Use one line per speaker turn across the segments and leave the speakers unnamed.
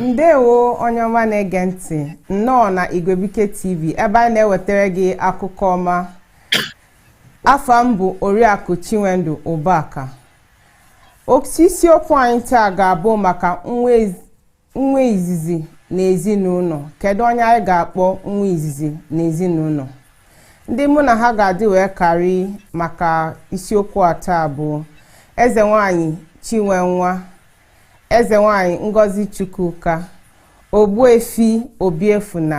ndewo onye ọma na-ege ntị nnọọ na igwebike tv ebe anyị na-ewetara gị akụkọ ọma afa m bụ oriakụ chinwendu ụbaka isiokwu anyị taa ga-abụ maka nwa Nwa izizi n'ezinụlọ. Kedụ onye anyị ga-akpọ nwa izizi n'ezinụlọ? Ndị mụ na ha ga-adị wee karị maka isiokwu a taa bụ Eze Nwanyị Chinwenwa, Eze Nwanyị Ngozi Chukwuka, Ogbuefi Obiefuna,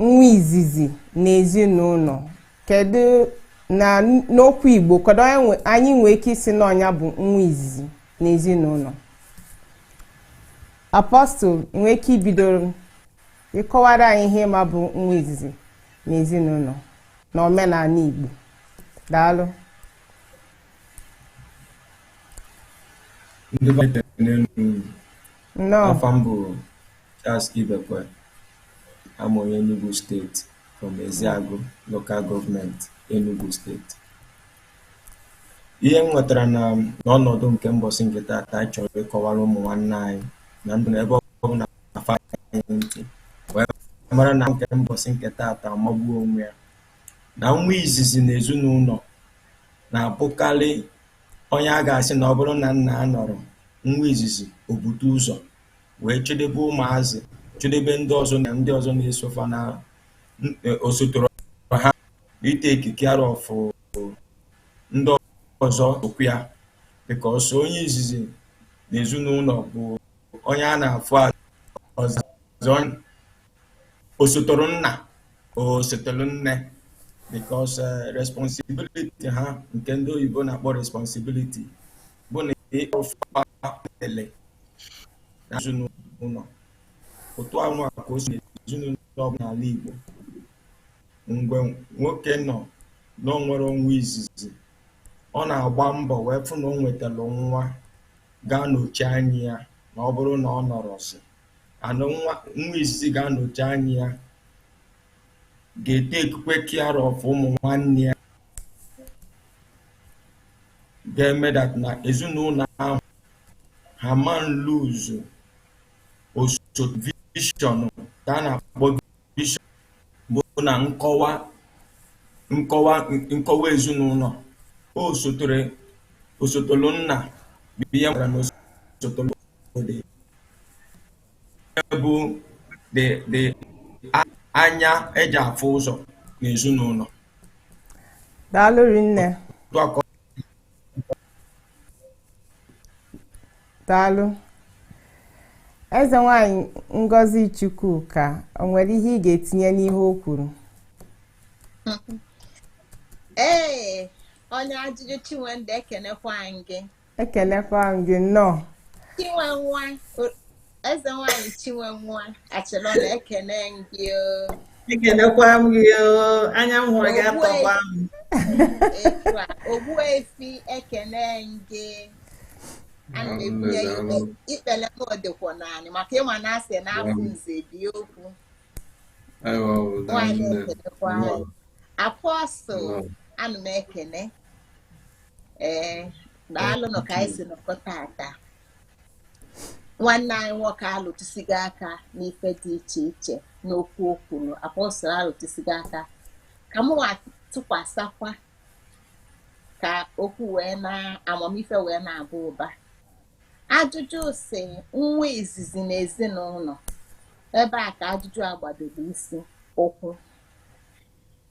nwa izizi n'ezinụlọ kedu na n'okwu igbo kedu onye nwe- anyị nwee ike ịsị na onye a bụ nwa izizi n'ezinụlọ apọstụl ị nwee ike ibido ịkọwara anyị ihe ma bụ nwa izizi n'ezinụlọ na omenala igbo
daalụ ndị be anyị tere n'elu nnọọ afa m bụ Charles Ibekwe, abụ m onye Enugu steeti from Eziagụ local government Enugu steeti ihe m nwetara na n'ọnọdụ nke mbọsị nke taata anyị chọrọ ịkọwara ụmụ nwanne anyị na ndị nọ ebe ọbụna aṅa anyị ntị wee mara na nke mbọsị nke taata amagbuo onwe ya na nwa izizi na ezinụlọ na-abụkarị onye a ga-asị na ọ bụrụ na nna anọrọ nwa izizi o bute ụzọ wee chedebe ụmụazị chedebe ndị ọzọ na ndị ọzọ na-eso fa na e, osotoro ha i-take care of ndị ọzọ okwu ya because onye izizi na ezinụlọ bụ onye a na-afụ ọzọ osotoro nna osotoro nne because e, responsibility ha nke ndị oyibo na-akpọ responsibility bụ na ịkpọfa ele ezinụlọ otu a nwa ka o si ezinụlọ ọbụla n'ala Igbo mgbe nwoke nọ na o nwere nwa izizi ọ na-agba mbọ wee fụ na o nwetara nwa ga-anọchi anya ya na ọ bụrụ na ọ nọrọzị ya na nwa nwa izizi ga-anọchi anya ya ga-etakekwa care of ụmụ nwanne ya ga-eme that na ezinụlọ ahụ ha ama lose osote vision ka a na-akpọ vision bụ na nkọwa nkọwa nkọwa ezinụlọ o sotere osotolu nna bụ ihe nwere na osotolu obodo bụ the the anya eji afụ ụzọ
n'ezinụlọ daalụ rinne Otu a ka ọ- daalụ eze nwanyị ngozi chukwuka o nwere ihe ị ga-etinye n'ihe o
kwuru ee onye ajụjụ chinwendụ ekenekwa anyị gị ekenekwa
m gị nnọọ chinwenwa
o- eze nwanyị chinwenwa achịrọ na ekene gị o. ekenekwa
m gị oo. anya m hụrụ
gị atọkwa
m etu a
ogbuefi ekene gị ana m ebunye ya ikpe ikpele m ọ dịkwa naanị maka ịma na asị na afụ nze ebie okwu nwaanyị ekenekwa anyị apọstụl ana m ekene ee daalụnụ ka anyị si nọkọ tata nwanne anyị nwoke alụtụsigo aka n'ife dị iche iche n'okwu o kwuru apọstụl alụtụsigo aka ka m tụkwasịkwa ka okwu wee na amamife wee na-aba ụba ajụjụ sị nwa izizi na ezinụlọ ebe a ka ajụjụ a gbadoro isi ụkwụ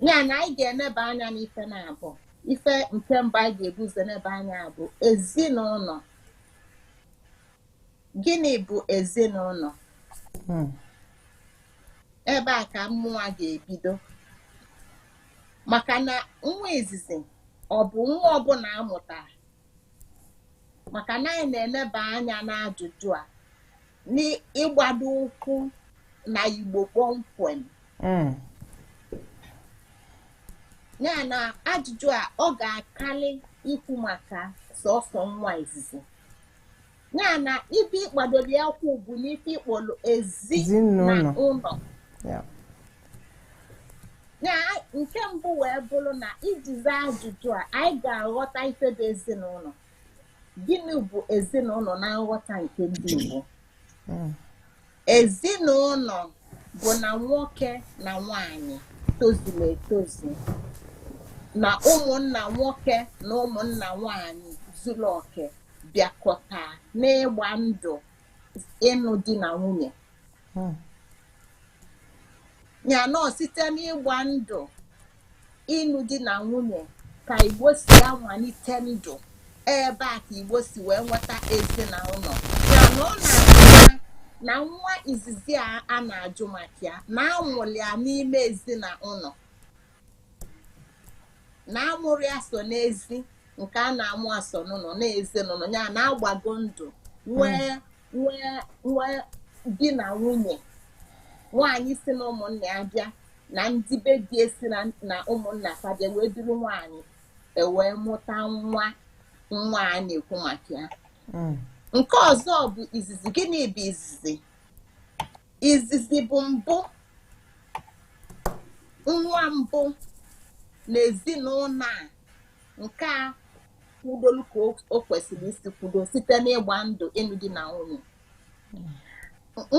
ya na anyị ga-eneba anya n'ife na-abụ ife nke mbụ anyị ga-ebu ụzọ eneba anya bụ ezinụlọ gịnị bụ ezinụlọ hmm. ebe a ka mụnwa ga-ebido maka na nwa izizi ọ bụ nwa ọbụla amụtara maka na anyị na-eneba anya n'ajụjụ a n'ịgbado ụkwụ na igbo kpọmkwem hmm. ya na ajụjụ a ọ ga-akarị ikwu maka sọsọ nwa izizi ya na ebe ị gbadoro ya ụkwụ bụ n'ife ị kpọrọ ezi na ụlọ ya nke mbụ wee bụrụ na iji zaa ajụjụ a anyị ga-aghọta ife bụ ezinụlọ gịnị bụ ezinụlọ na nghọta nke ndị Igbo hmm. ezinụlọ bụ na nwoke na nwanyị tozuru etozu na ụmụnna nwoke na ụmụnna nwanyị zuru oke bịakọta n'ịgba ndụ ịnụ di na nwunye hmm. ya na ọ site n'ịgba ndụ ịnụ di na nwunye ka Igbo si amalite ndụ ebe a ka Igbo si wee nweta ezinụlọ ya na ọ na-apụta na nwa izizi a a na-ajụ maka ya na amụrụ ya n'ime ezinụlọ na amụrọ ya sọ n'ezi nke a na-amụ ya sọ n'ụlọ na ezinụlọ ya na agbago ndụ nwee di na nwunye nwaanyị si na ụmụnna ya bịa na ndị be di esi na ụmụnna fa bịa wee duru nwaanyị ewee mụta nwa nwa a na-ekwu maka ya mm. nke ọzọ bụ izizi gịnị bụ izizi izizi bụ mbụ nwa mbụ na ezinụlọ a nke a kwudolu ka o kwesịrị isi kwudo site n'ịgba ndụ ịnụ di na nwunye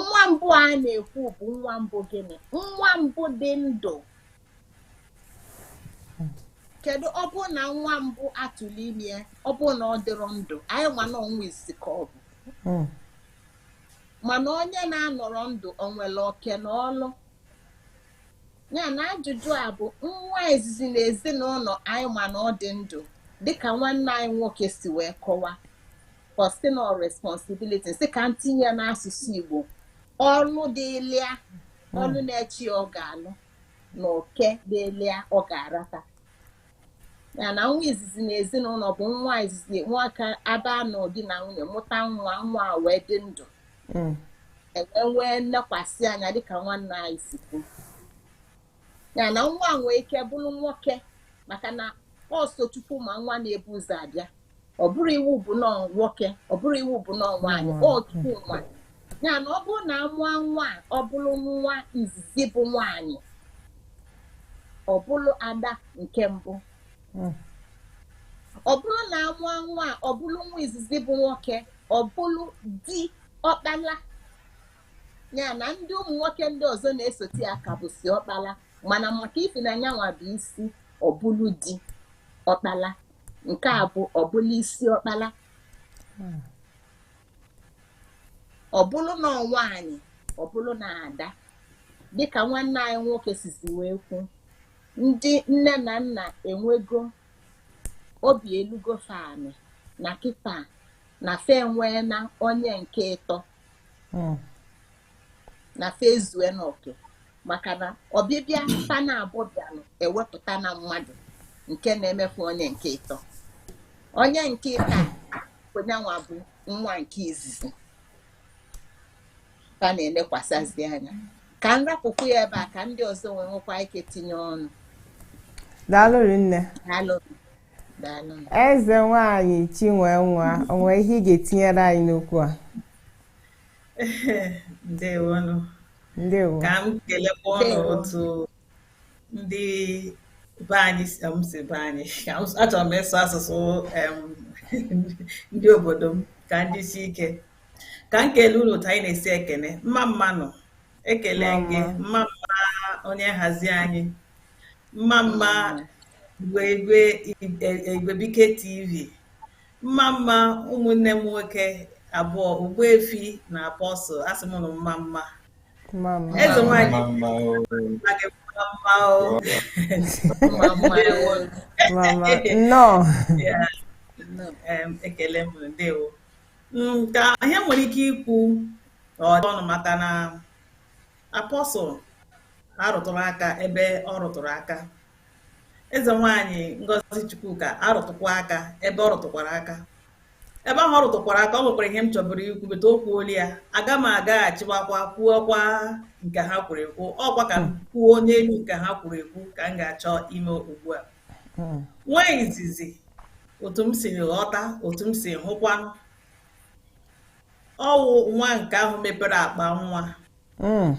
nwa mbụ a na-ekwu bụ nwa mbụ gịnị nwa mbụ dị ndụ kedu ọ bụrụ na nwa mbụ atụlụ ime ya ọ bụrụ na ọ dịrọ ndụ anyị ma na ọ nwa izizi ka ọ bụ hmm. mana onye na-anọrọ ndụ o nwerọ oke na ọlụ ya na ajụjụ a bụ nwa izizi na ezinụlọ anyị ma na ọ dị ndụ dịka nwanne anyị nwoke si wee kọwa personal responsibility sị ka ntinye n'asụsụ Igbo ọlụ dịlị ya hmm. ọlụ na-eche ya ọ ga-alụ na oke dịlị ya ọ ga-arata ya na nwa izizi na ezinụlọ bụ nwa izizi maka agbaa ndụ di na nwunye mụta nwa nwa wee dị ndụ hmm. enwee nnekwasị anya dịka nwanne anyị si kwu ya na nwa nwee ike bụrụ nwoke maka na ọ sọ Chukwu ma nwa na-ebu ụzọ abịa ọ bụrọ iwu bụ na ọ nwoke ọ bụrọ iwu bụ na ọ nwaanyị ọ Chukwu ma ya na ọ bụrụ na amụọ nwa ọ bụrụ nwa izizi bụ nwaanyị ọ bụrụ ada nke mbụ hmm. ọ bụrụ na amụọ nwa ọ bụrụ nwa izizi bụ nwoke ọ bụrụ di ọkpala ya na ndị ụmụ nwoke ndị ọzọ na-esote ya ka bụsị ọkpala mana maka ifi na nyanwa bụ isi ọ bụlụ di ọkpala nke a bụ ọ bụlụ isi ọkpala ọ bụlụ na ọ nwaanyị ọ bụlụ na ada dịka nwanne anyị nwoke sizi wee kwu ndị nne na nna enwego obi elugo fa ani na kịta na fa enweena onye nke ịtọ hmm. na fa ezue n'oke maka na ọbịbịa fa naabọ bịanụ ewepụta na mmadụ nke na-emefu onye nke ịtọ onye nke ịta onye nwa bụ nwa nke izizi fa na-enekwasazị anya ka m rapụkwu ya ebe a ka ndị ọzọ nwee nwekwa ike tinye ọnụ daalụ
rinne daalụ eze nwanyị chinwe nwa o nwe ihe ị ga-etinyere anyị n'okwu
a ndewonụ ndewo
ka m kelekwa
unu otu ndị be anyị si be anyị achọrọ m ịsụ asụsụ ndị obodo m ka ndị si ike ka m kelee unu otu anyị na-esi ekene mma mma nụ ekelee m gị mma mma onye nhazi anyị mma mma Igwebuike TV mma mma ụmụnne m nwoke abụọ Ogbuefi na Apostle asị m unu mma mma eze nwanyị ekele m ndewo ka ihe m nwere ike ikwu ọnụ maka na Apostle arụtụrụ aka ebe ọ rụtụrụ aka eze nwaanyị Ngozi Chukwuka arụtụkwa aka ebe ọ rụtụkwara aka ebe ahụ ọ rụtụkwara aka o nwekwara ihe m chọburu ikwu but o kwuola ya aga m agaghachiwakwa kwuokwa nke ha kwuru ekwu ọkwa ka m hmm. kwuo n'elu nke ha kwuru ekwu ka m ga-achọ ime ugbu a hmm. nwa izizi otu m siri ghọta otu m siri hụkwanụ ọ wụ nwa nke ahụ mepere akpa nwa hmm.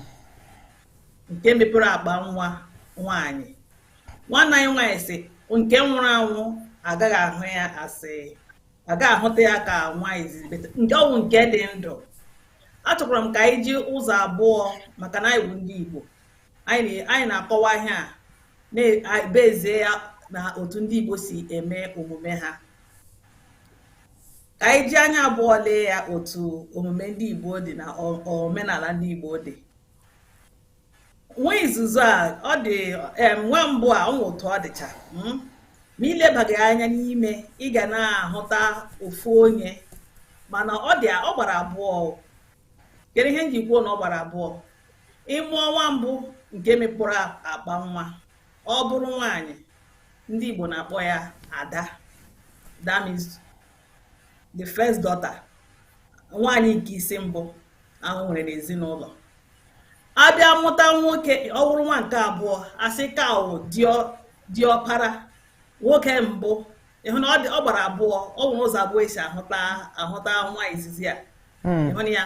nke mepere akpa nwa nwaanyị nwanne anyị nwaanyị sị nke nwụrụ anwụ agaghị ahụ ya as agaghị ahụta ya ka nwa izizi but nke ọ wụ nke dị ndụ achọkwara m ka anyị ji ụzọ abụọ maka na anyị bụ ndị Igbo anyị na-akọwa ihe a na-ebezie ya na otu ndị Igbo si eme omume ha ka anyị ji anya abụọ lee ya otu omume ndị Igbo dị na omenala ndị Igbo dị nwa izizi a ọ dị nwa mbụ a o nwe otu ọ dịcha hmm? ma i lebaghị anya n'ime ị ga na-ahụta ofu onye mana ọ gbara abụọ kedu ihe m ji kwuo na ọ gbara abụọ ị mụọ nwa mbụ nke mekpụrụ akpa nwa ọ bụrụ nwaanyị ndị Igbo na-akpọ ya ada that means the first daughter nwaanyị nke isi mbụ ahụ nwere n'ezinụlọ abịa mụta nwoke ọ bụrụ nwa nke abụọ asị ka ọ diọkpara nwoke mbụ ịhụ na ọ gbara abụọ ọ nwere ụzọ abụọ esi ahụta nwa izizi a hmm. ịhụ na ya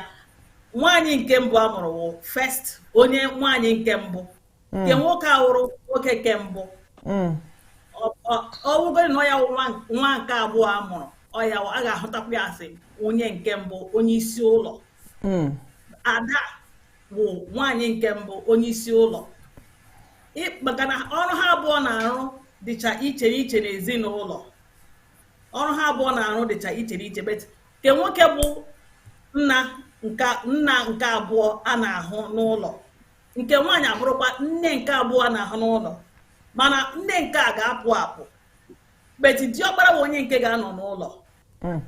nwaanyị nke mbụ a mụrụ wụ first onye nwaanyị nke mbụ nke hmm. nwoke awụrụ nwoke nke mbụ hmm. ọ wụgodi na ọ ya wụ nwa nke abụọ a mụrụ ọ ya a ga-ahụtakwa ya as onye nke mbụ onye isi ụlọ hmm. ada bụ nwaanyị nke mbụ onye isi ụlọ maka na ọrụ ha abụọ na-arụ dịcha iche iche n'ezinụlọ ọrụ ha abụọ na-arụ dịcha iche iche but nke nwoke bụ nna nke abụọ a na-ahụ n'ụlọ nke nwaanyị abụrụkwa nne nke abụọ a na-ahụ n'ụlọ mana nne nke a ga-apụ apụ but diọkpara bụ onye nke ga-anọ n'ụlọ hmm.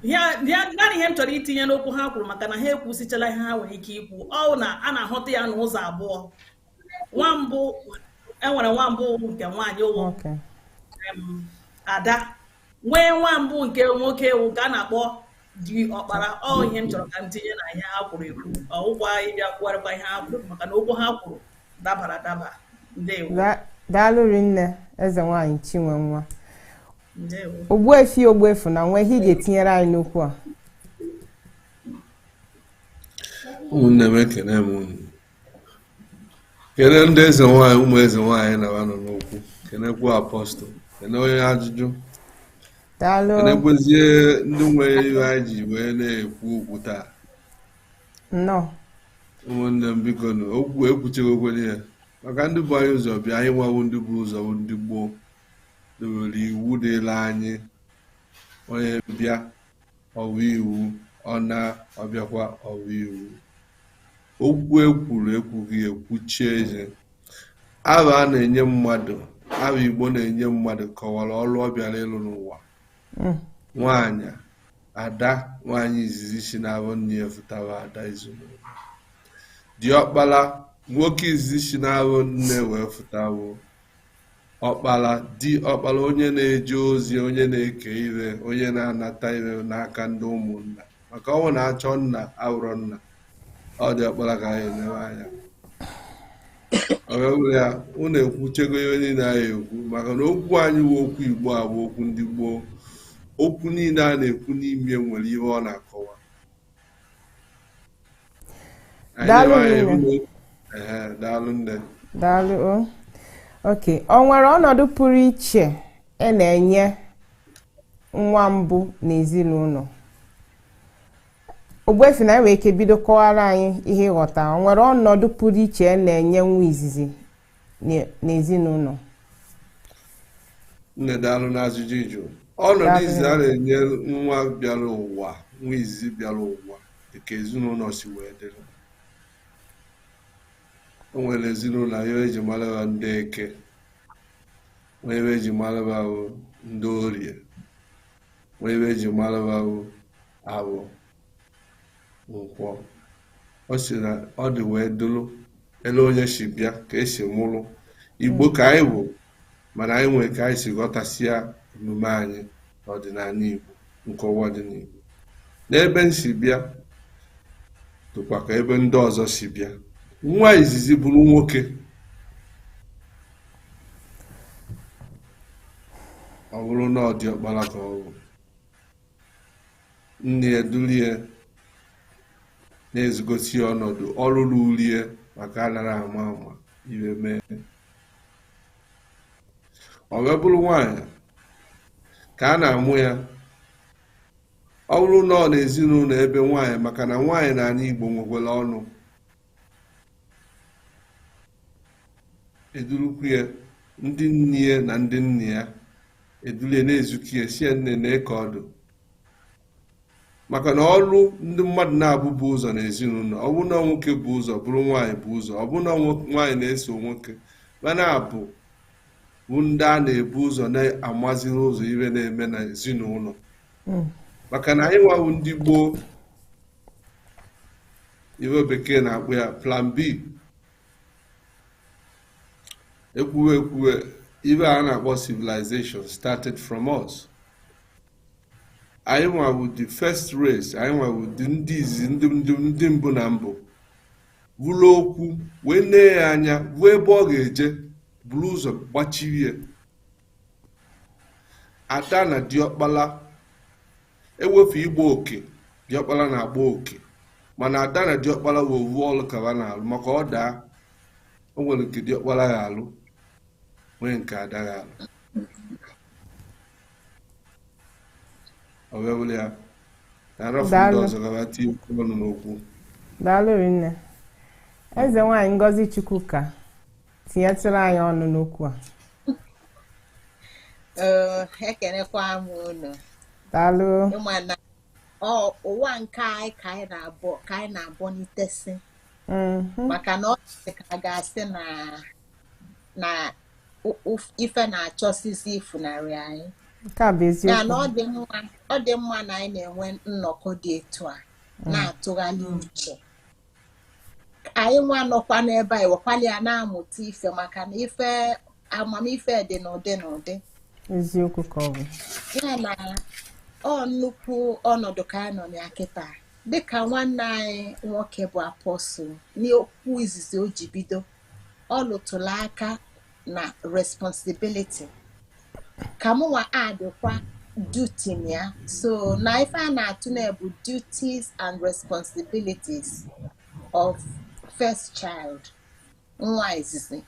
naanị ihe m chọrọ itinye n'okwu ha kwuru maka na ha ekwusichala ihe ha nwere ike ikwu ọ wụ na a na-ahụta ya n'ụzọ abụọ nwa mbụ e nwere nwa mbụ nke nwaanyị wụ ada nwee nwa mbụ nke nwoke wụ nke a na-akpọ diọkpara ọ ihe m chọrọ ka m tinye na ihe ha kwuru ekwu ọ wụkwa ịbịa kwugharịkwa ihe ha kwuru maka na okwu ha kwuru dabara adaba ndewo
daalụ rinne eze nwaanyị chinwenwa ogbuefi ogbuefi na nwa ihe ị ga-etinyere anyị n'okwu a
ụmụnne m ekene m unu kene ndị eze nwanyị ụmụ eze nwanyị na nọ n'okwu kenekwu apostle kene onye
ajụjụ kenekwezie
ndị nwere ihe anyị ji wee na-ekwu okwu taa ụmụnne m biko nụ okwu ekwuchego okwere ya maka ndị bu anyị ụzọ bịa anyị nwa wụ ndị bu ụzọ ndị gboo dowere iwu dịla anyị onye bịa ọ wụ iwu ọ na ọ bịakwa ọ wụ iwu Okwu e kwuru ekwughị ekwuchie ihe. Aha a na-enye mmadụ aha Igbo na-enye mmadụ kọwara ọrụ ọ bịara ịlụ n'ụwa hmm. nwaanyị ada nwaanyị izizi si n'afọ nne ya fụta bụ ada ezinụlọ diọkpara nwoke izizi si n'afọ nne wee fụta bụ ọkpara diọkpara onye na-eje ozi onye na-eke ihe onye na-anata ihe n'aka ndị ụmụnna maka ọnwụ na-achọ nna ahụrọ nna ọ diọkpara ka anyị elewe anya ọgawụrụ ya unu ekwuchego ihe niile anyị ekwu maka na okwu anyị wụ okwu igbo a bụ okwu ndị gboo okwu niile a na-ekwu n'ime nwere ihe ọ na-akọwa
Daalụ nne.
Daalụ nne. Daalụ o.
Ok, o nwere ọnọdụ pụrụ iche a na-enye nwa mbụ n'ezinụlọ. Ogbuefi nna anyị nwere ike bido kọwara anyị ihe ị ghọta. O nwere ọnọdụ pụrụ iche a na-enye nwa izizi n'e-
n'ezinụlọ nne daalụ n'ajụjụ ị jụ ọnọdụ Daalụ. izizi a na-enye nwa bịara ụwa nwa izizi bịara ụwa dịka ezinụlọ si wee dịrị o nwere ezinụlọ ihe eji mara ha ndị eke nwee ebe eji mara ha bụ ndị orie nwee ebe eji mara ha bụ afọ nkwọ ọ sị na ọ dị wee dụrụ ele onye si bịa ka esi mụrụ igbo ka anyị bụ mana anyị nwere ka anyị si ghọtasịa omume anyị na ọdịnala igbo nkewa dị n'igbo n'ebe m si bịa dịkwa ka ebe ndị ọzọ si bịa nwa izizi bụrụ nwoke ọ bụrụ na ọ diọkpala ka ọ bụ nne ya duru ya na-ezigosi ya ọnọdụ ọrụ ruru ya maka anara ama ama ihe mee ọ wee bụrụ nwaanyị ka a na-amụ ya ọ bụrụ na ọ na ezinụlọ ebe nwaanyị maka na nwaanyị n'ala Igbo nwekwara ọnụ edurukwu ya ndị nne ya na ndị nna ya eduru ya na-ezikwu ya sị ya nne nee ka ọ dị maka na ọrụ ndị mmadụ naabọ bu ụzọ na ezinụlọ ọ bụ na nwoke bu ụzọ bụrụ nwaanyị bu ụzọ ọ bụ na nwaanyị na-eso nwoke mana abụọ ndị a na-ebu ụzọ na-amaziri ụzọ ihe na-eme na ezinụlọ hmm. maka na anyị nwa wụ ndị gboo ihe bekee na-akpọ ya plan b ekwuwe ekwuwe ihe a na-akpọ civilization started from us anyị nwa wụ the first race anyị nwa wụ ndị izizi ndị mbụ na mbụ hụrụ okwu wee nee ya anya hụ ebe ọ ga-eje buru ụzọ gbachiri ya ada na diọkpala Ewefu ịgba oke, diọkpala na-agba oke. Mana ada na diọkpala bụ ovu ọlụ ka ha na-alụ maka ọ daa, o nwere nke diọkpala ya alụ, nwee nke ada ya alụ. Ọ wee bụrụ ya na arafụ ndị Daalụ. ọzọ ka ha tinye okwu ọnụ n'okwu. Daalụ
rinne. Eze nwaanyị Ngozi Chukwuka tinyetụrụ anyị ọnụ n'okwu
a ekenekwa m unu daalụ
ị ma na
ụwa nke anyị ka anyị na-abọnitesi mm-hmm. maka na ọ dị ka a ga-asị na na ife na-achọsizi ifunarị anyị ya
na
ọ dị mma na anyị na-enwe nnọkọ dị etu a mm. na-atụgharị uche anyị nwa nọkwa n'ebe anyị wekwala ya na-amụta ife maka na ife amamife dị n'ụdị n'ụdị eziokwu ka
ọ bụ ya na
ọ nnukwu ọnọdụ ka anyị nọ na ya kịta dịka nwanne anyị nwoke bụ apostle n'okwu izizi o ji bido ọ lụtụlụ aka na responsibility ka mụwa addịkwa duty na ya so na ife a na-atụne bụ duties and responsibilities of first child nwa izizi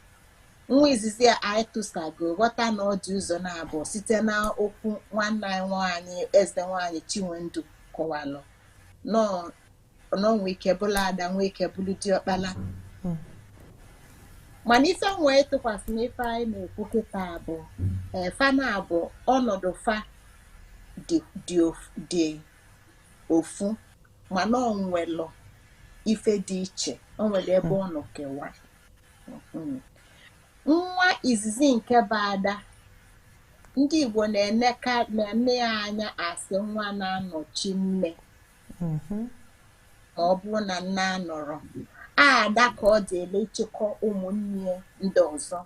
nwa izizi a anyị tụsago ghọta na ọ dị ụzọ naabọ site na okwu nwanne anyị nwaanyị eze nwaanyị chinwendu kọwalụ nọọ na o nwe ike bụlụ ada nwe ike bụlụ diọkpala mana ife m nwe ịtụkwasị na ife anyị na-ekwu kịta bụ ee, fa naabọ ọnọdụ fa dị ofu mana o nwelụ ife dị iche o nwere ebe ọ nọ kewa Mhm. nwa izizi nke bụ ada ndị igbo na-ene ya anya as nwa na-anọchi nne mm-hmm. ma ọ bụrụ na nne anọrọ ada ka ọ dịịlị ịchịkọ ụmụnne ndị ọzọ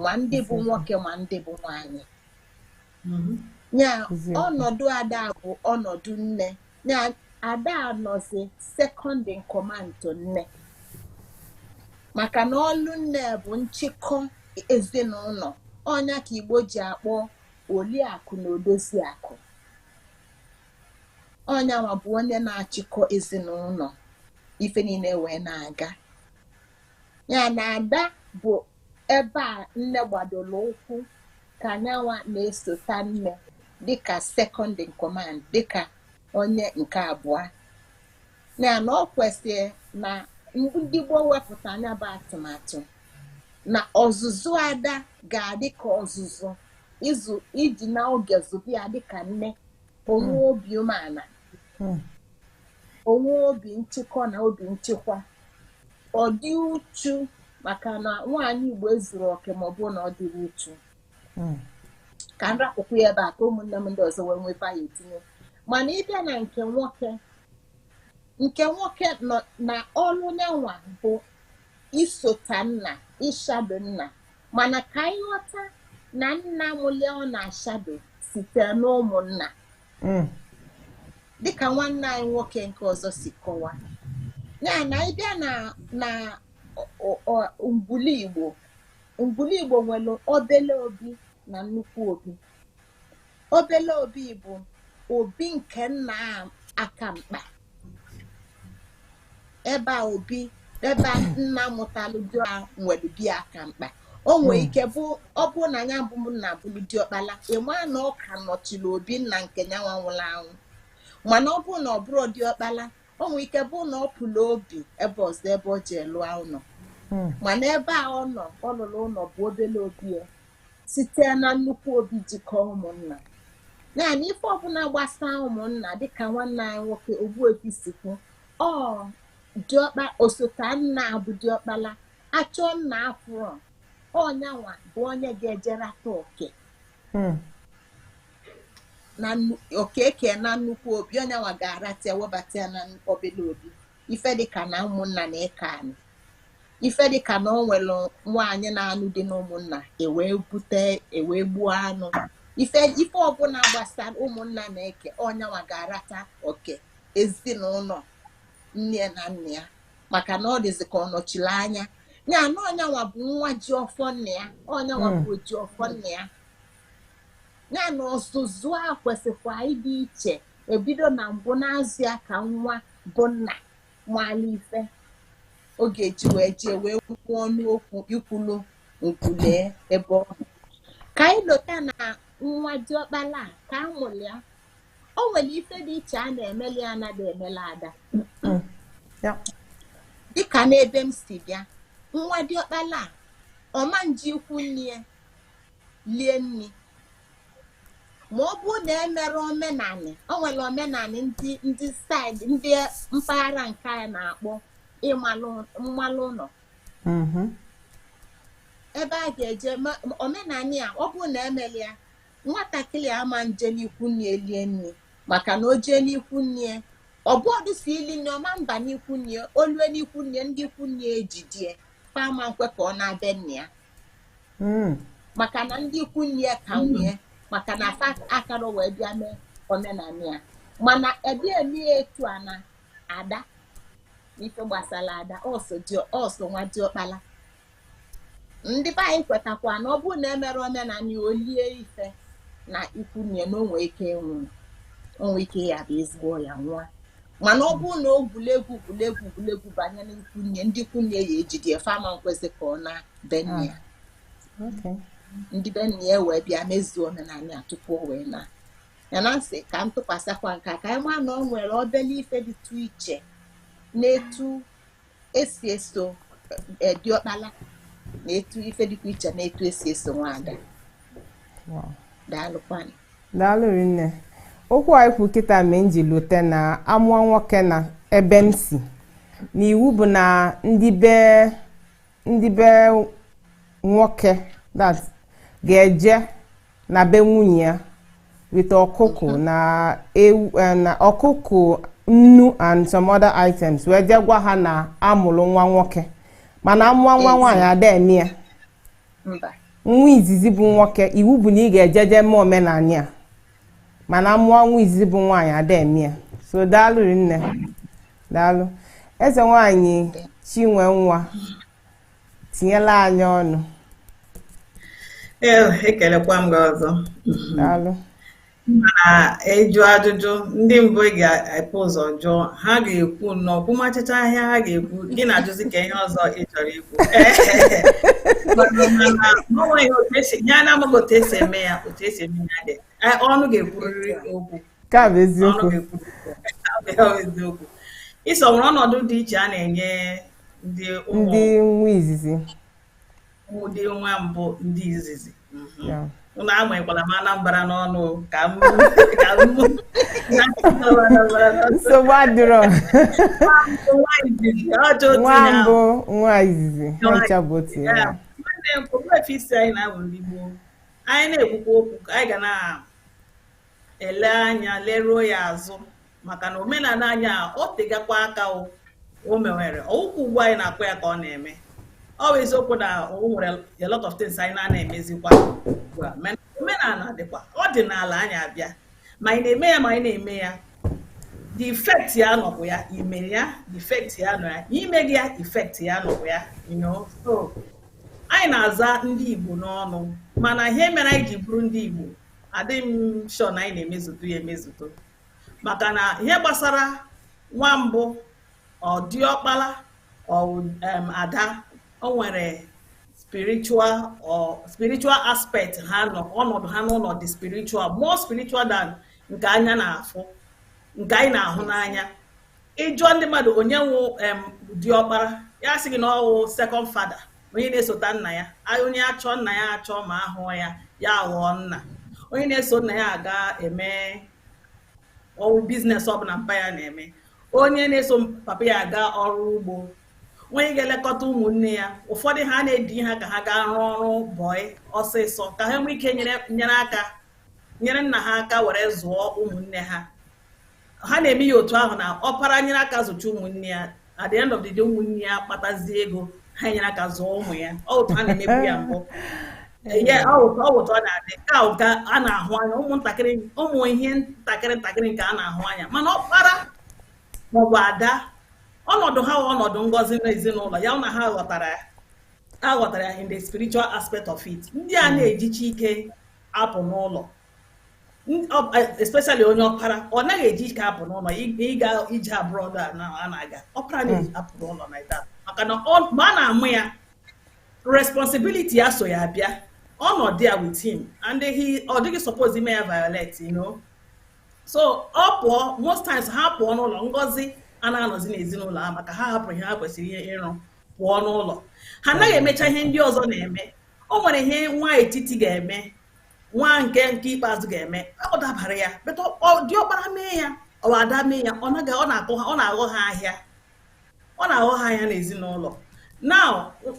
ma ndị bụ nwoke ma ndị bụ nwanyị mm-hmm. ya ọnọdụ ada bụ ọnọdụ nne ya ada anọzi second in command to nne maka na ọlụ nne bụ nchịkọ ezinụlọ ọ nya ka igbo ji akpọ oliakụ na odozi akụ ọ nya nwa bụ onye na-achịkọ ezinụlọ ife niile wee na-aga ya na ada bụ ebe a nne gbadoro ụkwụ ka nya nwa na-esota nne dịka second in command dịka onye nke abụọ ya na ọ kwesịrị na ndị gboo wepụta nya bụ atụmatụ na ọzụzụ ada ga-adị ka ọzụzụ iji na oge zụba ya dịka nne onwe hmm. obi umeala hmm. onwe obi nchịkọ na obi nchịkwa ọ dị uchu maka na nwaanyị Igbo ezuru oke ma ọ bụ na ọ dịrị uchu hmm. ka m rapụkwu ya ebe a ka ụmụnne m ndị ọzọ wee nwee ya etinye mana ịbịa na nke nwoke nke nwoke nọ na ọrụ nyanwa bụ isota nna ịshado nna mana ka anyị ghọta na nna mụlụ ya ọ na-ashado site n'ụmụnna mm. dịka nwanne anyị nwoke nke ọzọ si kọwa ya na ịbịa na ngwulu Igbo ngwulu Igbo nwere obele obi na nnukwu obi obele obi bụ obi nke nna aka mkpa ebe a obi ebe a nna mụtalụ diọkpala nwere bi aka mkpa o nwee hmm. ike bụ ọ bụrụ na ya bụ nna bụrụ diọkpala ịma na ọ ka nọchiri obi nna nke nyanwa nwụrụ anwụ mana ọ bụrụ na ọ bụrụ diọkpala o nwere ike bụ na ọ pụrụ obi ebe ọzọ ebe ọ jee lụa ụlọ hmm. mana ebe a ọ nọ ọ lụrụ ụlọ bụ obele obi ya site na nnukwu obi jikọọ ụmụnna naanị ife ọbụla gbasaa ụmụnna dịka nwanne anyị nwoke Ogbuefi si kwu ọ diọkpa osota nna bụ diọkpala achọọ nna afụrọ ọnyanwa bụ onye ga-ejerata oke hmm. na okeke na nnukwu obi ọnyanwa ga-arata ya webata ya na obele obi ife dịka na ụmụnna na-eke anụ ife dịka na o nwere nwaanyị na-anụ di n'ụmụnna ewee bute ewee gbuo anụ ife ife ọbụla gbasara ụmụnna na-eke ọnyanwa ga-arata oke ezinụlọ nne na nna ya maka na ọ dịzị ka ọ nọchiri anya ya na ọnyanwa bụ nwa ji ọfọ nna ya ọnyanwa hmm. bụ ji ọfọ nna ya ya na ọzụzụ a kwesịkwa ịdị iche ebido na mbụ na-azụ ya ka nwa bụ nna mala ife ọ ga-eji wee jee wee kwuo ọnụ okwu ikwulu nkwulee ebe ọ bụ ka anyị lota na nwa diọkpala ka a mụrụ ya o nwere ife dị iche a na-emeli ya anaghị emela ada dịka n'ebe m si bịa nwa diọkpala ọ ma nje ikwu nne ya lie nri ma ọ bụrụ na emere omenanị o nwere omenanị ndị ndị saịdị ndị mpaghara nke anyị na-akpọ ịmalụ mmalụ ụlọ mhm. ebe a ga-eje ma- ma omenanị a ọ bụrụ na emere ya nwatakịrị ama nje n'ikwu nne lie nri maka na o jee n'ikwu nne ọbụọdụ si ili nri ọ ma mba n'ikwu nne o lue n'ikwu nne ndị ikwu nne ejidie fa ama nkwe ka ọ naa be nne ya hmm. maka na ndị ikwu nne ya ka nwe ya maka na fa akarọ abịa mee omenanị ya mana ebe eme etu a na ada n'ife gbasara ada ọsọ nwa diọkpala ndị be anyị kwetakwa na ọ bụrụ na emerọ omenanị a o lie ife na ikwu nne na o nwe ike ịnwụ o nwe ike ya bụ ezigbo ọya nwa mana ọ bụrụ na o gwulie egwu gwulie egwu gwulie egwu banye n'ikwu nne ndị ikwu nne ya ejide fa ama ekwezi ka ọ naa be nna ya ah, ndị be nna ya wee bịa mezuo omenanị a tupu o wee naa ya na m sị ka m tụkwasịkwa nke a ka anyị maa na o nwere obele ife dịtụ iche na etu esi eso e, diọkpala na etu ife dịkwa iche na etu esi eso nwaada daalụkwanụ daalụ rinne
okwu a i kwu kịta mee m ji lote na amụọ nwoke na ebe m si na iwu bụ na ndị be ndị be nwoke that ga-eje na be nwunye ya with ọkụkụ mm-hmm. na ewu eh, na ọkụkụ nnu and some other items wee jee gwa ha na amụrụ nwa nwoke mana amụọ nwa nwaanyị ada eme ya nwa izizi bụ nwoke iwu bụ na ị ga-eje je mee omenanị a mana amụọ nwa izizi bụ nwaanyị ada eme ya so daalụ rinne daalụ eze nwaanyị chinwe nwa tinyela anyị
ọnụ ekelekwa m gị ọzọ
daalụ
mana ịjụ ajụjụ ndị mbụ ị ga-ebu ụzọ jụọ ha ga-ekwu nnọọ kwumachachaa ihe ha ga-ekwu gị na-ajụzi kee ihe ọzọ ị chọrọ ikwu ya na-amaghị otu esi eme ya otu esi eme ya dị ọnụ ga-ekwurịrị okwu ka bụ eziokwu eziokwu ịsọ nwere ọnọdụ dị iche a na-enye ndị
nwa
izizi ndị nwa mbụ ndị izizi mhm. ụnụ amanyekwala m anambra n'ọnụ ka m
nsogbu adịrọ nwa mbụ nwa izizi ncha bụ otu ya nwanne m
okpuefe isi anyị na-abụ ndị Igbo anyị na-ekwukwa okwu anyị ga na-ele anya leruo ya azụ maka na omenala anyị a o tegakwa aka o o mewere ọ wụkwa ugbu a anyị na-akọ ya ka ọ na-eme ọ bụ eziokwu na o nwere a lot of things anyị na-ana emezikwa ugbu a mana omenala dịkwa ọ dị n'ala anyị abịa ma anyị na-eme ya ma anyị na-eme ya the effect ya nọbụ ya i mee ya the effect ya nọ ya i meghị ya effect ya nọbụ ya you know so anyị na-aza ndị Igbo n'ọnụ mana ihe mere anyị ji bụrụ ndị Igbo adịghị m sure na anyị na-emezutu ya emezutu maka na ihe gbasara nwa mbụ ọ diọkpara ọ em, ada o nwere spiritual or spiritual aspect ha nọ ọnọdụ ha n'ụlọ dị spiritual more spiritual than nke anya na-afụ nke anyị na-ahụ n'anya ị jụọ ndị mmadụ onye wụ em, diọkpara ya sị gị na ọ wụ second father onye na-esota nna ya onye a chọọ nna ya achọ ma ahụụ ya ya aghọọ nna onye na-eso nna ya aga eme ọrụ business ọbụla mpa ya na-eme onye na-eso papa ya aga ọrụ ugbo onye ga-elekọta ụmụnne ya ụfọdụ ha na-ezi ha ka ha gaa rụọ ọrụ bọị ọsịsọ ka ha nwee ike nyere aka nyere nna ha aka were zụọ ụmụnne ha ha na-eme ya otu ahụ na ọpara nyere aka zụcha ụmụnne ya at the end of the day ụmụnne ya kpatazie ego ha nyere aka zụọ ụmụ ya ọ otu ha na-emebu ya mbụ ọ wụ otu ọ na-adị ka ụka a na-ahụ anya ụmụntakịrị ụmụ ihe ntakịrị ntakịrị nke a na-ahụ anya mana ọkpara maọbụ ada ọnọdụ ha wụ ọnọdụ ngọzi n'ezinụlọ ya na ha ghọtara ya a ghọtara ya in the spiritual aspect of it ndị a na-ejighi ike apụ n'ụlọ especially onye ọpara ọ naghị eji ike apụ n'ụlọ ịga ije abroad a na-aga ọpara na-eji apụ n'ụlọ na ita maka na mgbe a na-amụ ya responsibility ya so ya bịa ọ nọ there with him and he ọ dịghị suppose ime ya violate you know so ọ pụọ most times ha pụọ n'ụlọ ngọzi a na-anọzi n'ezinụlọ ha maka ha hapụrụ ihe ha kwesịrị ihe ịrụ pụọ n'ụlọ ha anaghị emecha ihe ndị ọzọ na-eme o nwere ihe nwa etiti ga-eme nwa nke nke ikpeazụ ga-eme ọ dabara ya but diọkpara mee ya ọ wụ ada mee ya ọ naghị ọ na-akụ ha ọ na-aghọ ha ahịa ọ na-aghọ ha ahịa n'ezinụlọ now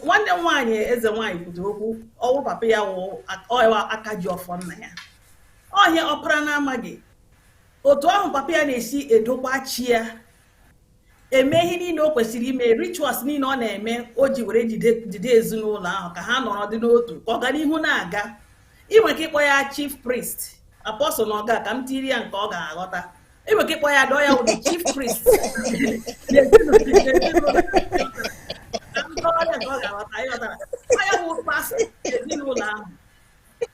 nwanne m nwaanyị eze nwaanyị kwutere okwu ọ wụrụ papa ya wụ ọ wụ aka ji ọfọ nna ya ọ ihe ọpara na-amaghị otu ahụ papa ya na-esi edokwa chi ya eme ihe niile o kwesịrị ime rituals niile ọ na-eme o ji were jide ezinụlọ ahụ ka ha nọrọ dị n'otu ka ọganihu na-aga i nwee ike ịkpọ ya chief priest apostle na ọga ka m tiri ya nke ọ ga-aghọta i nwee ike ịkpọ ya dọọ ya ụdị chief priest ya bụ pastor ezinụlọ ahụ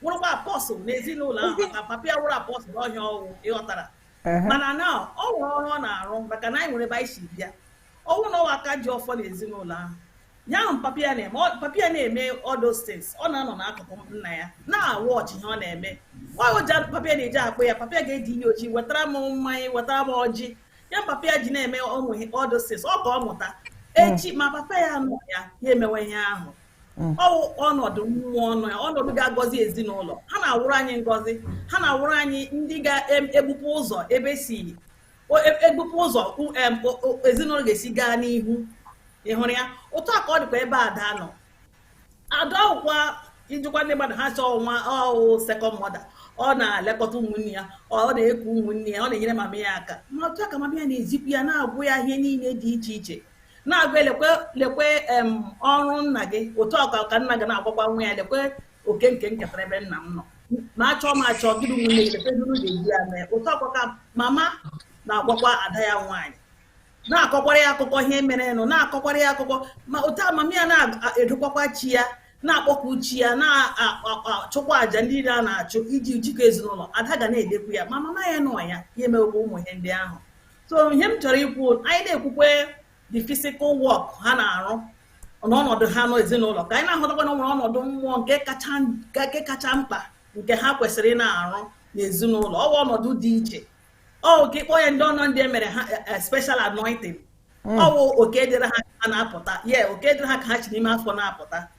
wụrụkwa apostle n'ezinụlọ ahụ maka papa ya wụrụ apostle ọ ihe ọ wụ ị ghọtara mana na o nwere ọrụ ọ na-arụ maka na anyị nwere ebe anyị si bịa ọ wụrụ na ọ wụ aka ji ọfọ n'ezinụlọ ahụ ya ahụ papa ya na-eme papa ya na-eme all those things ọ na-anọ n'akụkụ nna ya na-awatch ihe ọ na-eme nwa oji papa ya na-eji akpụ ya papa ya ga-ezi ya ozi wetara m mmanya wetara m ọjị ya papa ya ji na-eme ụmụ all those things ọ ka ọ mụta echi ma papa ya nọ ya ya emewe ihe ahụ Mm. ọnọdụ mmụọ ọ nọ ya ọnọdụ ga-agọzi ezinụlọ ha na-awụrụ anyị ngọzi ha na-awụrụ anyị ndị ga-egbupụ ụzọ ebe e si egbupụ e ụzọ ezinụlọ ga-esi gaa n'ihu ị hụrụ ya otu a ka ọ dịkwa ebe ada nọ ada ọkwa ijikwa ndị mmadụ ha sị na ọ wụ second mother ọ na-elekọta ụmụnne ya ọ na-eku ụmụnne ya ọ na-enyere mama ya aka ma otu a ka mama ya na-ezikwu ya na-agwa ya ihe niile dị iche iche na-agwa ya lekwe lekwe em, ọrụ nna gị otu ahụ ka nna gị na-agwakwa nwa ya lekwe oke nke m ketara ebe nna m nọ ma achọọ ma achọọ gị na ụmụnne gị lekwe otu unu ga-eji ya mee otu ahụkwa ka mama na-agwakwa ada ya nwaanyị na-akọkwara ya akụkọ ihe mere nụ na-akọkwara ya akụkọ ma otu a mama ya na-edokwakwa chi ya na-akpọku chi ya na-achụkwa àjà ndị niile a na-achụ iji jikọ ezinụlọ ada ga na-edekwu ya ma mama ya nwụọ ya ya emewekwa ụmụ ihe ndị ahụ so ihe m chọrọ ikwu anyị na-ekwukwe the physical work ha na-arụ n'ọnọdụ ha n'ezinụlọ ka anyị na-ahụtakwa na o nwere ọnọdụ mmụọ nke kacha mkpa nke ha kwesịrị na-arụ n'ezinụlọ ọ bụ ọnọdụ dị iche ọ ka ịkpọ ya ndị ọnọ ndị e mere ha e, e, special anointing Hmm. ọ wụ oke dịrị ha ka ha na-apụta ye oke dịrị ha ka ha si n'ime afọ na-apụta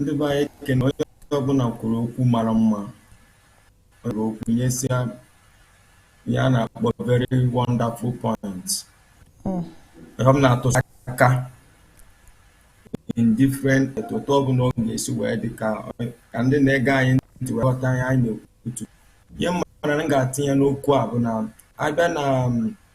ndị be anyị ekene onye ọbụla kwuru okwu mara mma nwere okwu nyesịa ihe a na-akpọ very wonderful point hmm. ihe m na-atụsi aka in different otu ọbụla ọ ga-esi wee dị ka ndị na-ege anyị ntị wee ghọta ihe anyị na-ekwutu ihe mara m ga-atinye n'okwu a bụ na a bịa na um,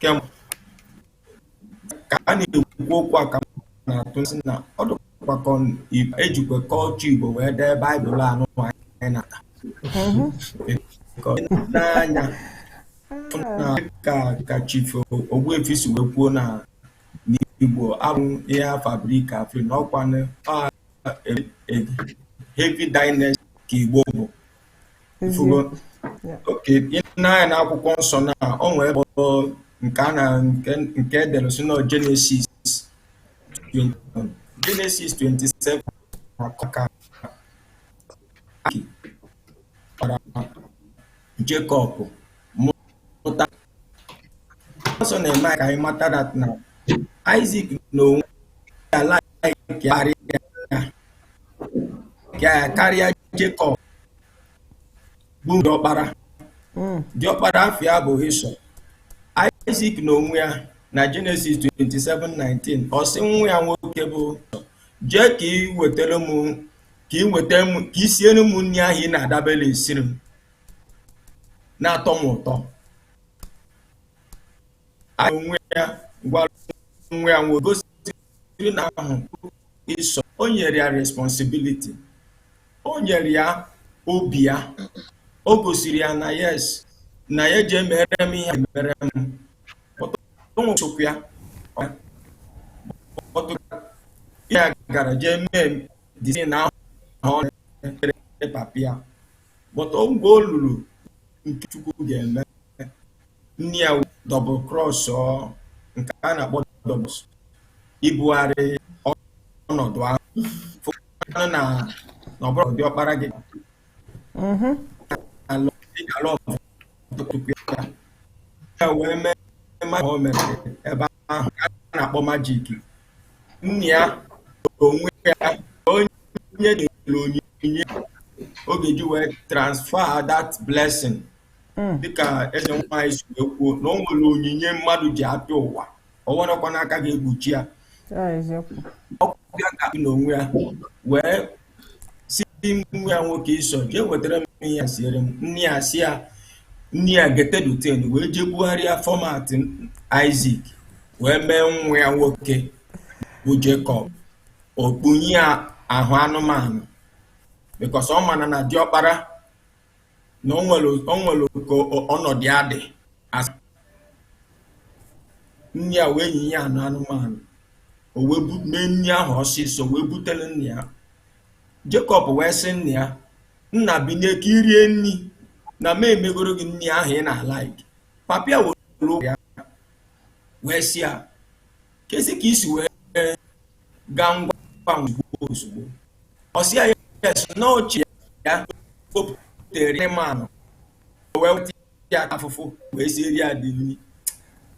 kemgbe ka a na-ekwu okwu a ka m na-atụ m sị na ọ dịkwa ka ọ- i- e jikwa culture igbo wee dee baịbụl anụ anyị na-ata Ka ọ dị n'anya fụ na ka ka chief ogbuefi si wee kwuo na n'igbo abụ ihe fabrika afri na ọkwanụ a- a- a- heavy dynasty ka igbo bụ Ị fụgo. Yeah. okay i nee anya n'akwụkwọ nsọ na o nwere ebe ọ nke a na nke nke e dere si na Genesis 20 Genesis 27 na-akọ ka Aki kpara Jekọb mụta Ịsọ na-eme ka anyị mata that na Isaac na onwe ya like ya karịa ya karịa Jekọb bụ diọkpara hmm. diọkpara afa ya bụ Ịsọ Isaac na onwe ya na Genesis 27:19 ọ sị nwa ya nwoke bụ jee ka ị wetara m ka ị weta m ka ị siere m nri ahụ ị na-adabere esiri m na-atọ m ụtọ anyị onwe ya gwara nwa ya nwoke gosiri na ahụ Ịsọ o nyere ya responsibility o nyere ya obi ya o gosiri ya na yes na ya jee mere m ihe mere m nwụchụkwu ya ya gara jee mee dizin ahụ na ọ na-emere papa ya but mgbe o luru nke Chukwu ga-eme nne ya double cross nke a na-akpọ double ibugharị ọnọdụ ahụ fụkwanụ na na ọ bụrụ diọkpara gị mhm. ala ọbụla ya wee mee mmadụ o mere ebe ahụ a na-akpọ magic nna ya onwe ya onye nyere onyinye ọ ga-eji wee transfer that blessing hmm. dịka eze nwaanyị si wee kwuo na o nwere onyinye mmadụ ji abịa ụwa o nwerekwa aka ga-egbochi ya ọkụbịa ka nna onwe ya wee si nwa ya nwoke Ịsọ jee wetara m ihe ya siere m nna ya si ya nne ya getelu ntị wee jee bugharịa format Isaac wee mee nwa ya nwoke bụ Jekọb o kpunye ya ahụ anụmanụ because ọ mana na diọkpara na o nwere o nwere ka ọ- ọnọdụ ya dị asị nne ya wee yinye ya anụ anụmanụ o wee bu- mee nri ahụ ọsịsọ wee butere nna ya Jekọb wee sị nna ya nna binie ka i rie nri na m emegoro gị nri ahụ ị na-alaiki papa ya were ụgwọ ya wee sị ya kezi ka i si wee gaa ngwa ozugbo ozugbo ọ sị ya yes na ọ chi ya wepụtere m anụ wee weta ya afụfụ wee siere ya dị nri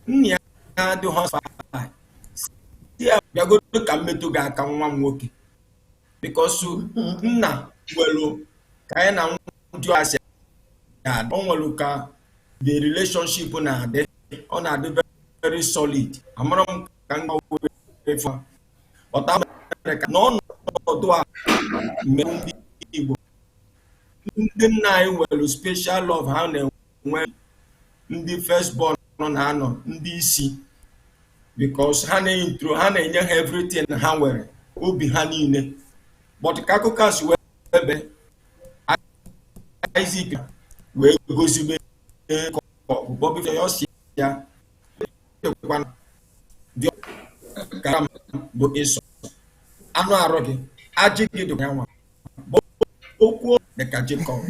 nna ya na-adụ hospital si ya bịagodo ka m metụ gị aka nwa m nwoke because nna nwelu ka anyị na ndị ọha si ga-adị o nwelu ka the relationship na-adị ọ na-adị very solid amara m ka m gwawefa ọta mere ka na ọnọdụ a mere ndị Igbo ndị nna anyị nwere special love ha na-enwe ndị first born na-anọ ndị isi because ha na-intro ha na-enye ha everything ha nwere obi ha niile but ka akụkọ a si wee ebe Isaac wee gozibe ka ọkpụkpọ bife ya ọ sị ya ekwana dị ka m bụ Ịsọ anụ arụ gị ajị gị dị ya nwa bụ okwu dị ka Jekọb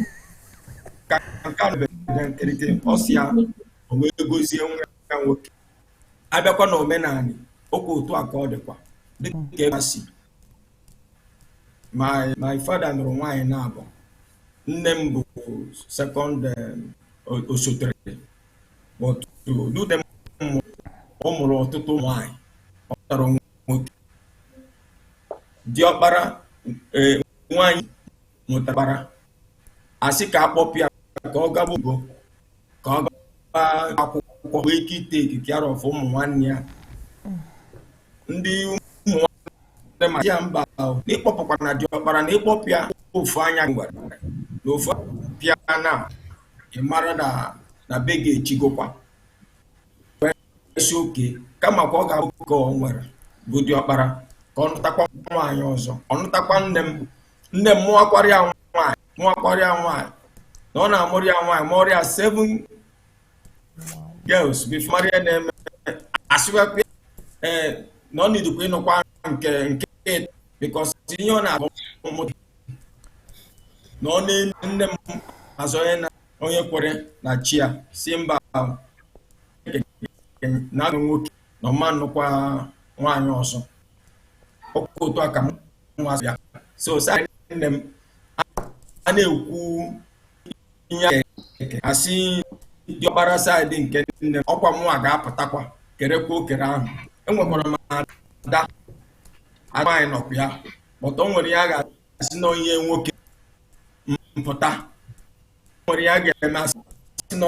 ka nke a nụbeghị na nkirịta ọ sị ya o wee gozie nwa ya nwoke a bịakwa na omenanị okwu otu a ka ọ dịkwa dịka ebe a si my my father nụrụ nwaanyị naabọ nne m bụ second osotere but ọ mụrụ ọtụtụ nwaanyị ọ tọrọ nwoke diọkpara nwaanyị mụtakwara a sị ka a kpọpụ ya ka ọ gaba ogo ka ọ gaba akwụkwọ nwee ike ịtake care of ụmụ nwanne ya ndị ụmụ nwanne ma ya mba ahụ na ị kpọpụkwa na diọkpara na ị kpọpụ ya ofu anya gwara na ofu pịa na ị mara na na be gị echigokwa a sị okay kama ka ọ ga-abụ ka ọ nwere bụ diọkpara ka ọ nụtakwa nwaanyị ọzọ ọ nụtakwa nne m nne m mụakwara ya nwaanyị mụakwara ya nwaanyị na ọ na-amụrụ ya nwaanyị mụọrọ ya seven girls before a mara ihe na-eme asịwepụ ee eh, na o needikwa ịnụkwa nke nke because ihe ọ na-abụ mụta na ọ na-enu nne m azụ onye na onye kwere na chi ya sị mba na nwoke na ọ ma-anụkwa nwaanyị ọzọ ọkwa otu a ka m nwa ya so saa nne m a na-ekwu ihe a ga-eke asị diọkpara side nke nne m ọkwa mụnwa ga-apụtakwa kerekwa okere ahụ enwekwara m ada ada anyị nọkwa ya but o nwere ihe a ga-asị na onye nwoke m pụta o nwere ihe a ga-eme asị na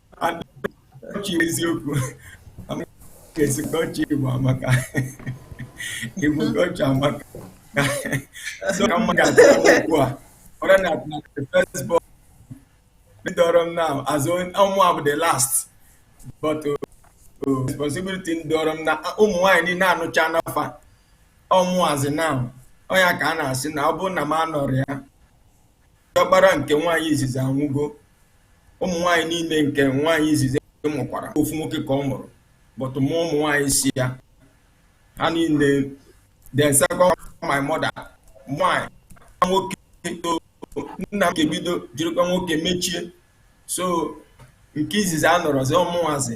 ọchị eziokwu kesikwa ọchị igbo amaka igbo ka ọchị amaka so ka mma ga-atụ okwu a ọra na the first born dọọrọ m now as ọ mụa bụ the last but uh, uh, responsibility dọọrọ m na ụmụ nwaanyị niile anụcha n'afa ọ mụnwazị now ọ nya ka a na-asị na ọ bụrụ na m anọrọ ya Diọkpara nke nwaanyị izizi anwụgo. Ụmụ nwaanyị niile nke nwaanyị izizi mụkwara ofu nwoke ka ọ mụrụ but mụọ ụmụ nwaanyị si ya ha niile then second my mother nwaanyị nwoke nna m ga-ebido jirikwa nwoke mechie so nke izizi anọrọzi ọ mụnwazi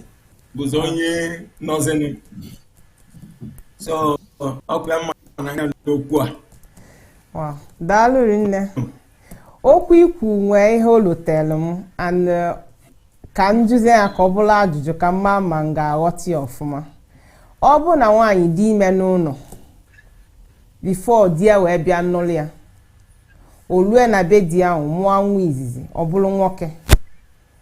bụzi onye nọzini so ọkụ ya mma n'anya n'okwu a Wow. daalụ
rinne okwu i kwuu nwee ihe o lotelu m and eh, ka m jụzie ya ka ọ bụlụ ajụjụ ka m maa ma m ga-aghọta ya ọfụma ọ bụ na nwaanyị dị ime n'ụlọ before di ya wee bịa nụlụ ya o lue na be di ya wee mụa nwa izizi ọ bụlụ nwoke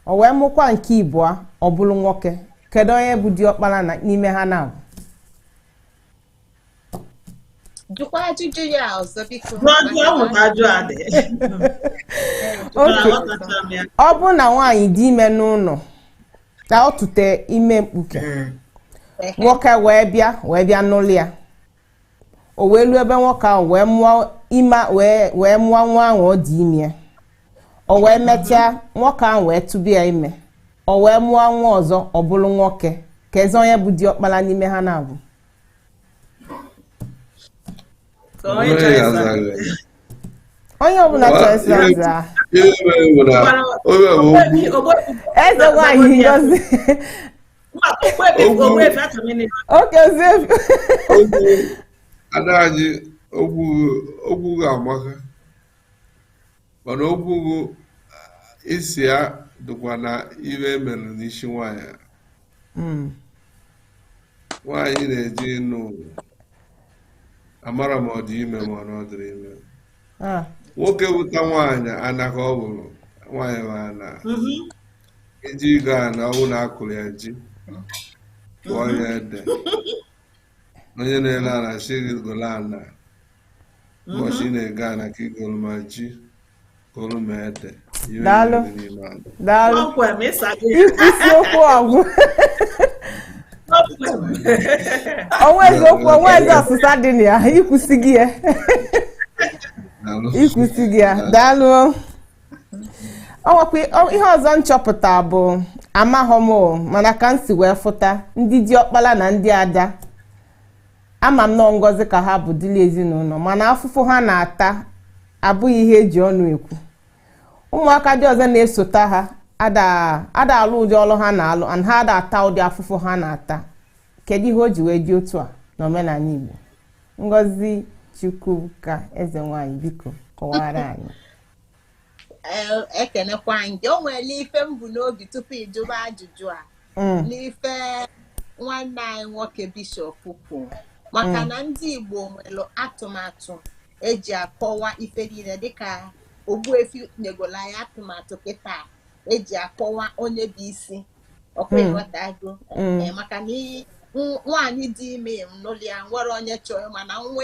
o wee mụkwa nke ịbụa ọ bụlụ nwoke kedu onye bụ diọkpala n'ime ha naabọ
jụkwa ajụjụ
ya ọzọ biko ọ bụ na nwaanyị dị ime n'ụlọ ka ọ tụte ime mkpuke nwoke wee bịa wee bịa nụlụ ya o wee lue be nwoke ahụ wee mụọ ime wee wee mụọ nwa ahụ ọ dị ime o wee mechaa nwoke ahụ wee tụba ya ime o wee mụọ nwa ọzọ ọ bụrụ nwoke keezi onye bụ diọkpala n'ime ha naabọ Ka onye chọrọ ịza. onye ọbụla chọrọ esi aza Onye bụ okwu Ogbu- ogbu- eze nwaanyị ngozi
ada anyị okwu gị amaka mana okwu gị isi ya dịkwa na ihe e melụ n'isi nwanyị hmm. nwanyị na-eje ịnụ amara ma ọ dị ime ma ọ dịrọ ime ah. nwoke wụta nwaanyị anaka ọ bụrụ nwaanyị ma a na mm-hmm. eje igo ana ọ wụ na a kụrụ ya ji kụọ ya ede onye na-ele ana sị gị golu ana ụbọchị ị na-ego ana ka i golu ma ji golu ma ede ihe Daalụ. niile n'ime ala.
daalụ Kpọmkwem, ị sago ya. I- isiokwu ọgwụ Kpọmkwem. o nweezi okwu o nweezi ọsịsa dị na ya i kwusigo ya Daalụ. i kwusigo ya daalụ ọwakwa ihe ọzọ m chọpụta bụ amahọ m mana ka m si wee fụta ndị diọkpala na ndị ada ama m na ọ ngọzi ka ha bụ dịlị ezinụlọ mana afụfụ ha na-ata abụghị ihe e ji ọnụ ekwu ụmụaka ndị ọzọ na-esota ha ada alụ ụdị ọlụ ha na-alụ and ha ada ata ụdị afụfụ ha na-ata kedu ihe o ji wee dị otu a n'omenala Igbo Ngozi Chukwuka eze nwanyị biko kọwara anyị
ekenekwa m gị o nwere ife m bu n'obi tupu ịjụba ajụjụ a mm. n'ife nwanne anyị nwoke bishọp kwuru maka mm. na ndị Igbo nwere atụmatụ eji akọwa ife niile dịka Ogbuefi nyegoro anyị atụmatụ kịta eji akọwa onye bụ isi ọkwa mm. ịghọtago e, maka na nwaanyị dị ime n'ụlọ ya nwere onye chọrọ mana nwa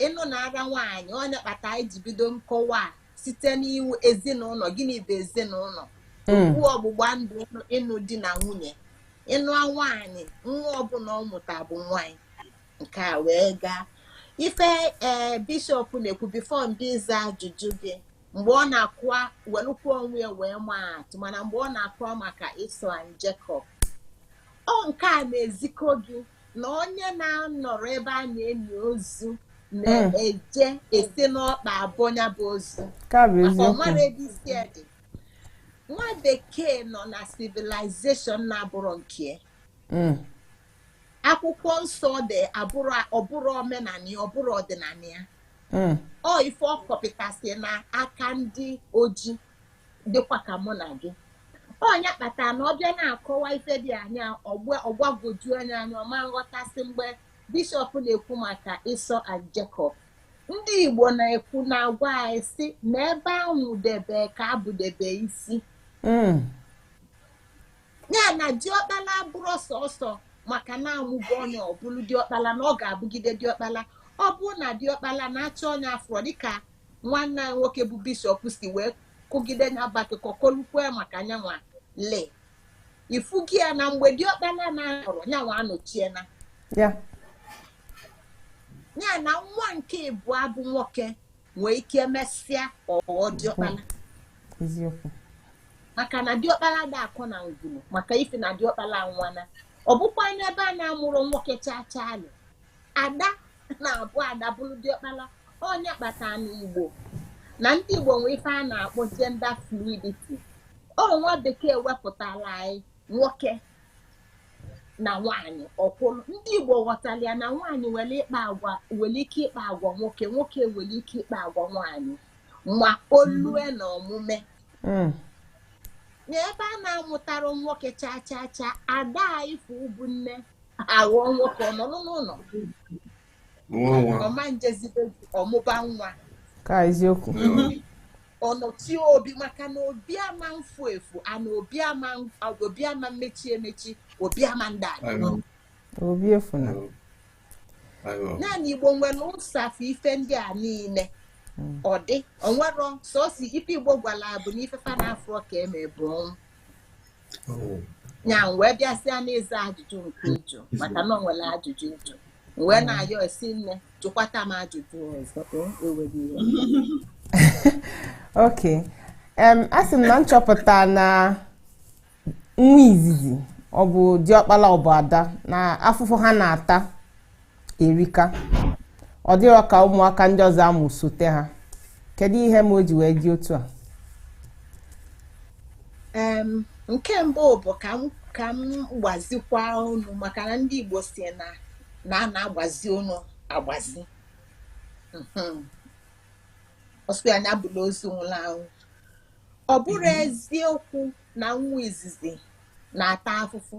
ịnụ na-ara nwaanyị ọnya kpata anyị ji bido nkọwa site n'iwu ezinụlọ gịnị bụ ezinụlọ hmm. okwu ọgbụgba ndụ ịnụ di na nwunye ịnụ nwaanyị nwa ọbụla ọ mụta bụ nwa anyị nke a wee gaa ife ee eh, bishọp na-ekwu before m bịa ịza ajụjụ gị mgbe ọ na-akọwa welukwa onwe ya wee maa atụ mana mgbe ọ na-akọwa maka Esau and Jacob ọ nke a na-ezikọ gị na onye na-anọrọ ebe a na-eni ozu na-eje esi n'ọkpa abọ ya bụ ozu ka bụ maka eziokwu ọmarọ ebe isi ya dị nwa bekee nọ na civilization na-abụrọ nke ya. Mm, akwụkwọ nsọ dị abụrọ ọbụrọ omenala ya ọbụrọ ọdịnala ya mm, ọ ife ọ kọpịtasị n'aka ndị ojii dịkwa ka mụ na gị ọnya kpatara na ọ bịa na-akọwa ife dị anya ọgbagwoju nya anya ọma nghọtasị mgbe bishọp na-ekwu maka Esau and Jacob ndị Igbo na-ekwu na agwa anyị si na ebe ahụ debe ka abụdebe isi hmm. ya na diọkpala abụrọ sọsọ maka na amụgo onye ọbụlụ diọkpala na ọ ga-abụgide diọkpala ọ bụrụ na diọkpala na-achọ onye afọ dịka nwanne anyị nwoke bụ bishọp si wee kọgide ya bụ akụkọ kọlukwa maka nyanwa lee ịfụgo ya na mgbe diọkpala na-anọrọ nyanwa anọchie anya ya na nwa nke ịbụa bụ nwoke nwee ike mesịa ọ ghọọ diọkpala eziokwu maka na diọkpala adị akọ na ngwuru maka ife na diọkpala nwana ọ bụkwa n'ebe a na-amụrọ nwoke chaa chaa alụ ada na-abụ ada bụrụ diọkpala ọnya kpata na igbo na ndị igbo nwee ife a na-akpọ gender fluidity ọ nwa bekee wepụtara anyị nwoke na nwaanyị ọkwụrụ ndị igbo ghọtara ya na nwaanyị nwere ịkpa agwa nwere ike ịkpa agwa nwoke nwoke nwere ike ịkpa agwa nwaanyị ma o lue n'omume hmm. n'ebe a na-amụtarọ nwoke cha cha cha ada ifụ bụ nne aghọọ nwoke ọ nọ n'ụlọ nwa nwa ọma njezide ọmụba nwa ka eziokwu ọnọchi obi maka na obi ama mfu efu ana obi ama obi ama mmechi emechi obi ama ndị anyị
obi efu
na ndị igbo nwere ụsafụ ife ndị a niile hmm. ọ dị o nwerọ sọsọ ife igbo gwara bụ n'ife fa na-afụrọ ka e me bụ ọnwụ ya wee bịasịa n'ịza ajụjụ nke ị jụ maka na o nwere ajụjụ ị jụ wee mm. na-ayọ sị nne jụkwata m ajụjụ ọzọ
ok a sị m na m chọpụta na nwa izizi ọ bụ diọkpala ọ bụ ada na afụfụ ha na-ata erika ọ dịrọ ka ụmụaka ndị ọzọ a mụsote ha kedu ihe me o ji wee dị otu
a nke mbụ bụ ka m ka m gbazikwa onu maka na ndị Igbo sị na na a na-agbazi onu agbazi mhm. ọ sọ nya abụla ozu nwụrụ anwụ ọ bụrọ mhm. eziokwu na nwa izizi na-ata afụfụ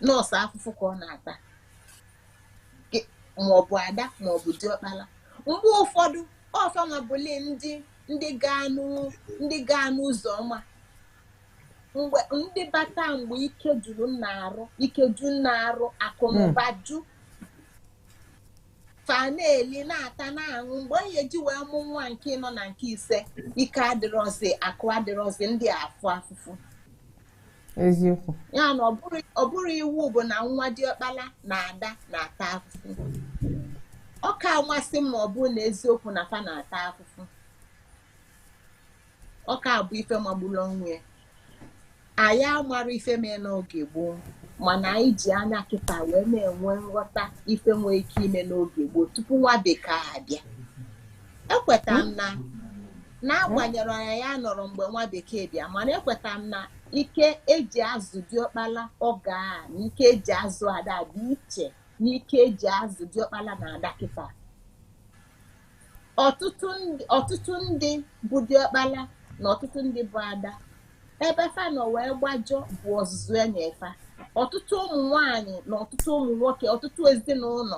na ọ sọ afụfụ ka ọ na-ata gị maọbụ ada maọbụ diọkpala mgbe ụfọdụ ọ fa nwa bụli ndị ndị ga-anụ ndị gaa n'ụzọ ọma mgbe ndị bata mgbe ike juru nna arụ ike ju nna arụ akụ na ụba ju fa na-eli na-ata na-aṅụ mgbe onye ji wee mụ nwa nke ịnọ na nke ise ike adịrọzi akụ adịrọzi ndị afụ afụfụ
eziokwu ya
na ọ bụrọ iwu bụ na nwa diọkpala na ada na-ata afụfụ ọ ka amasị m ma ọ bụrụ na eziokwu na fa na-ata afụfụ ọ ka abụ ife magburu onwe ya anyị amarọ ife mee n'oge gboo mana anyị ji anya kịta wee na-enwe nghọta ife nwee ike ime n'oge gboo tupu nwa bekee abịa ekweta m na n'agbanyerọ na anyị anọrọ mgbe nwa bekee bịa mana ekweta m na ike eji azụ diọkpala oge a na ike eji azụ ada dị iche na ike eji azụ diọkpala na ada kịta ọtụtụ ndị- ọtụtụ ndị bụ diọkpala na ọtụtụ ndị bụ ada ebe fa nọ wee gbajọ bụ ọzụzụ e nye fa ọtụtụ ụmụ nwanyị na ọtụtụ ụmụ nwoke ọtụtụ ezinụlọ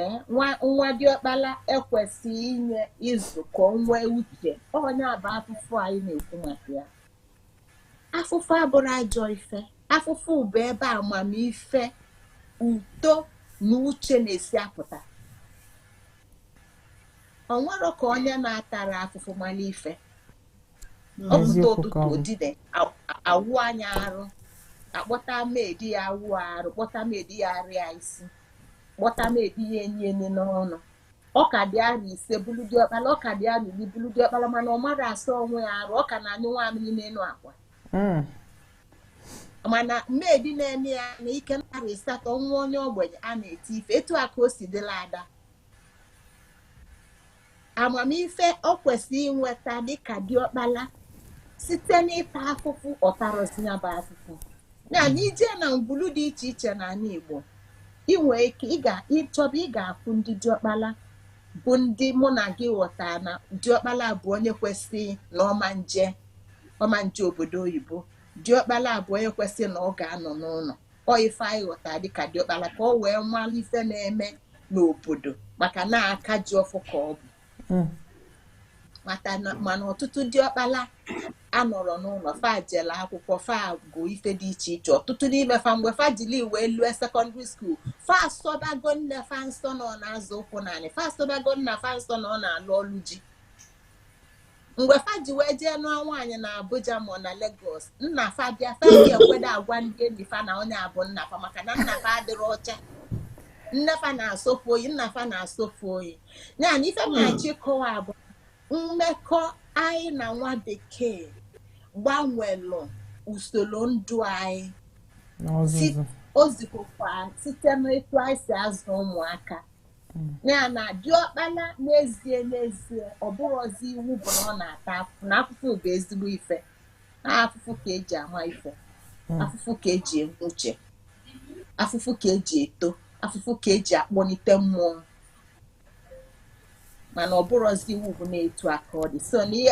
Eh, nwa nwa diọkpala ekwesịghị inye izu ka o nwee uche onye a bụ afụfụ anyị na-ekwu maka ya afụfụ abụrọ ajọ ife afụfụ bụ ebe amamife uto na uche na-esi apụta o nwerọ ka onye na-atarọ afụfụ mara ife ọ pụta ụtụtụ odide awụ anya arụ a kpọta maid ya awụọ arụ kpọta maid ya arịa isi kpọta maid ya enye nni n'ọnụ ọ ka dị arọ ise bụlụ diọkpala ọ ka dị arọ iri bụlụ diọkpala mana ọ marọ asa onwe ya arụ ọ ka na-anyụ nwamịrị n'enu akwa hmm. mana maid na-eme ya na ike na arọ ịsatọ nwa onye ogbenye a na-eti ife etu a ka o si dịlị ada amamife ọ kwesịrị inweta dịka diọkpala site n'ịta afụfụ ọ tarọzi ya bụ afụfụ ya na i jee na ngwulu dị iche iche n'anị Igbo ị nwee ike ịchọba ị ga-afụ ndị diọkpala bụ ndị mụ na gị ghọta na diọkpala bụ onye kwesịrị na ọ ma-eje ọ ma-eje obodo oyibo diọkpala bụ onye kwesịrị na ọ ga-anọ n'ụnọ ọ ife anyị ghọta dịka diọkpala ka o wee mara ife na-eme n'obodo maka na aka ji ọfọ ka ọ bụ hmm. mana ọtụtụ diọkpala anọrọ n'ụlọ fa jelu akwụkwọ fa gụ ife dị iche iche ọtụtụ n'ime fa mgbe fa jili wee lue secondary school fa asọbago nne fa nsọ na ọ na-azọ ụkwụ n'anị fa asọbago nna fa nsọ na ọ na-alụ ọlụ ji mgbe fa ji wee jee nụọ nwaanyị na Abuja ma na Lagos nna fa bịa fa adị ekwedo agwa ndị enyi fa na onye a bụ nna fa maka na nna fa adịrọ ọcha nne fa na-asọ fa oyi nna fa na-asọ fa oyi ya na ife m na-achọ hmm. ịkọwa bụ mmekọ anyị na nwa bekee gbanwelu usoro ndụ anyị o zikọkwa site n'etu anyị si azụ ụmụaka ya na diọkpala n'ezie n'ezie ọ bụrụzi iwu bụ na ọ na-ata afụfụ na afụfụ bụ ezigbo ife na afụfụ ka e ji ama ife afụfụ ka e ji enwe uche afụfụ ka e ji eto afụfụ ka e ji akpọnite mmụọ mana ọ bụrọzi iwu bụ na etu a ka ọ dị so ị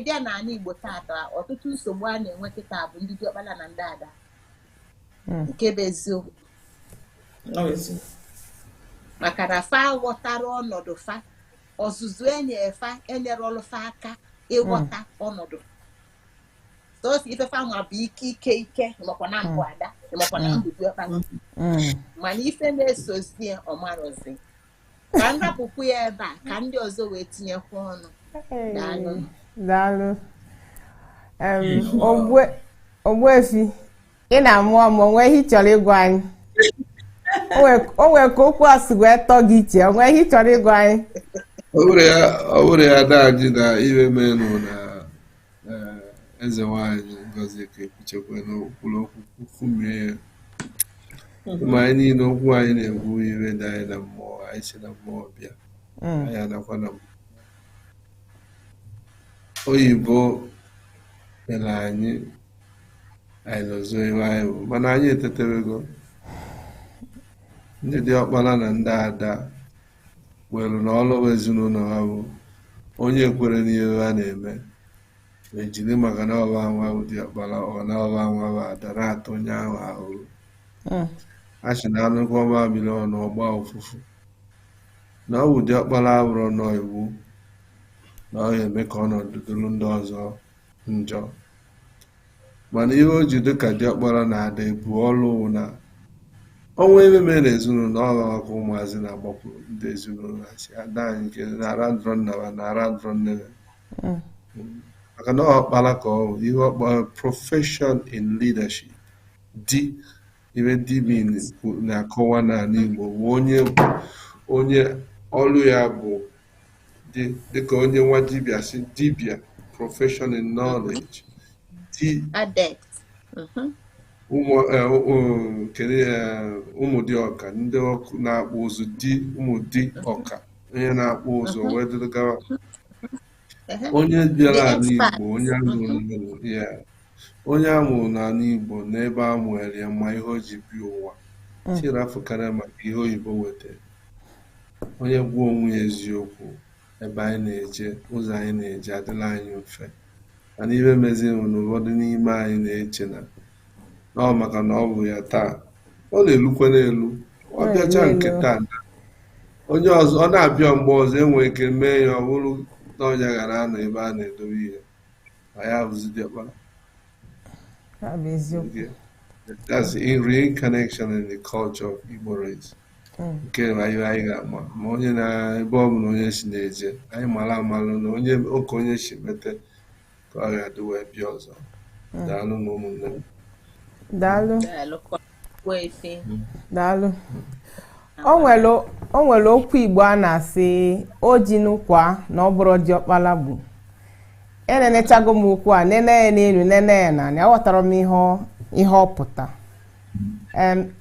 bịa n'ana Igbo tata ọtụtụ nsogbu a na-enwe kịta bụ ndị diọkpala na ndị ada hmm. nke bụ eziokwu maka na fa aghọtarọ ọnọdụ fa ọzụzụ e nyee fa enyerọlụ fa aka ịghọta hmm. ọnọdụ sọsọ ife fa ma bụ ike ike ike ị makwa na m bụ hmm. ada makwa na m bụ diọkpa mana ife na-esozi ya ọ marọzi ka m
hapụkwu ya ebe a ka ndị ọzọ wee tinyekwa ọnụ daalụ daalụ ogbuefi ị na-amụ amụ o nwee ihe ị chọrọ ịgwa anyị o nwere ka okwu a si wee tọọ gị ọchị o nwee ihe ị chọrọ ịgwa anyị
ọ bụrụ ya daji na iwe menụ na Eze nwanyị Ngozi Ekechukwu kwuru okwu kwumie ya ma anyị niile okwu anyị na-ekwu ihe dị anyị na mmụọ anyị si na mmụọ bịa hmm. anyị ana-akwa na oyibo mere anyị anyị nọzọ ihe anyị bụ mana anyị etetewego ndị diọkpara na ndị ada were na ọlụ ezinụlọ ha bụ onye kwere n'ihe ha na-eme e jiri maka na ọ bụ ha nwa bụ diọkpara ọ na ọ bụ ha nwa bụ ada na-ata onye ahụ ahụhụ hmm. a sị na a nyụkọọ mamịrị ọnụ ọ gbaa ụfụfụ na ọ bụ diọkpara abụrọ nọ iwu na ọ ga-eme ka ọnọdụ dịrị ndị ọzọ njọ Mana ihe o ji dịka diọkpara na ada ebu ọlụ wụ na o nwee ihe mere n'ezinụlọ ọ ha ka ụmụazị na-agbakwu ndị ezinụlọ ha si ada anyị nke na-ara ndụrọ nna ha na-ara ndụrọ nne ha maka na ọkpara ka ọ bụ ihe ọkpara profession in leadership di ihe di na-akọwa n'ala Igbo bụ onye onye ọlụ ya bụ di dịka onye nwa dibịa sị dibịa profession in knowledge di adept Mhm. ụmụ eh, ụmụ- kedu eh, ụmụ di ọka ndị Ọka na-akpụ ụzụ di ụmụ di ọka onye na-akpụ ụzụ wee dịrị gawa Ehe. onye bịara The ala expert. Igbo onye a mụrụ n'Igbo, yeah. onye a mụrụ n'ala Igbo n'ebe a mụere ya ma ihe o ji bi ụwa chiri afọ karịa maka ihe oyibo wetara Onye gwa onwe ya eziokwu, ebe anyị na-eje, ụzọ anyị na-eje adịla anyị mfe. Mana ihe meziri bụ na ụfọdụ n'ime anyị na-eche na na ọ maka na ọ bụ ya taa. Ọ na-elukwa n'elu. Ọ Ọ bịacha na-elu nke elu. taa na onye ọzọ ọ na-abịa mgbe ọzọ e nwee ike mee ya ọ bụrụ na ọ nya gara anọ ebe a na-edobe ihe. ma ya bụzi diọkpara Ya bụ eziokwu. Okay. That's a reincarnation in the culture of Igbo race. Mm. nke na anyị anyị ga-ama ma onye na ebe ọ bụla onye si na-eje anyị mara amalụ na onye oke onye si mete ka ọ ga-adị wee bịa ọzọ daalụ nụ ụmụnne m Daalụ. Daalụ.
daalụ o nwere okwu igbo a na-asị o ji n'ụkwa na ọ bụrụ diọkpala bụ enenechago m okwu a nene ya n'elu nene ya n'anị aghọtara m ihe ọ pụta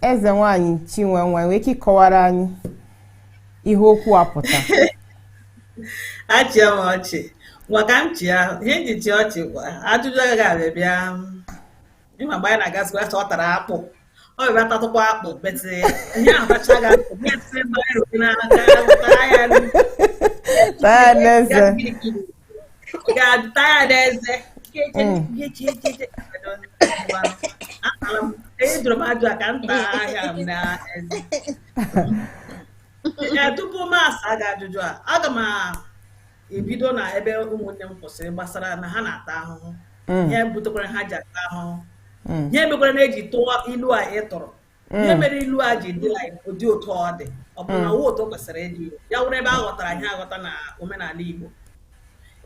eze nwanyị chinwe nwee ike ịkọwara anyị ihe okwu a pụta achịa
m ọchị maka m chịa ihe m ji achị ọchị ajụjụ agaghị abịa bịa ịma mgbe anyị na-agazi wee ọ tara akpụ ọ bịa tatụkwa akpụ but ihe ahụ tacha ga taa n'eze taa n'eze ejụrụ m ajụ ka m taa ihe a n'eze tupu m asa gị ajụjụ a aga m ebido na ebe ụmụnne m kwụsịrị gbasara na ha na-ata ahụhụ mm. ihe butekwara ha ji ata ahụhụ mm. ihe mekwara na e ji tụọ ilu a ị tụrụ mm. ihe mere ilu a ji dị ụdị otu ọ dị ọ bụ na ọ wụ otu o kwesịrị ịdị ya wụrụ ebe a ghọtara ihe aghọta na omenala Igbo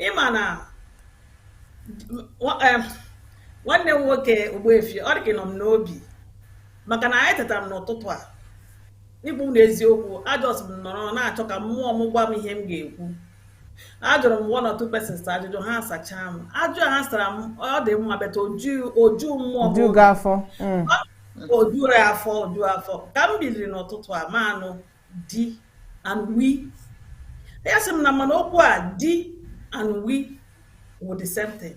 ịma na nwanne m nwoke Ogbuefi ọ dị ka ọ nọ m n'obi maka na anyị tetara m n'ụtụtụ a Ịgwa unu eziokwu, ajọs m nọrọ na-achọ ka mmụọ m gwa m ihe m ga-ekwu. Ajụrụ m one or two persons ajụjụ ha sachaa m. Ajụ a ha sara m ọ dị mma but o ju o ju mmụọ m jughị afọ Mm. o juru afọ o ju afọ ka m biliri n'ụtụtụ a mụ anụ di and we ya sị m na ị ma na okwu a di and we wụ the same thing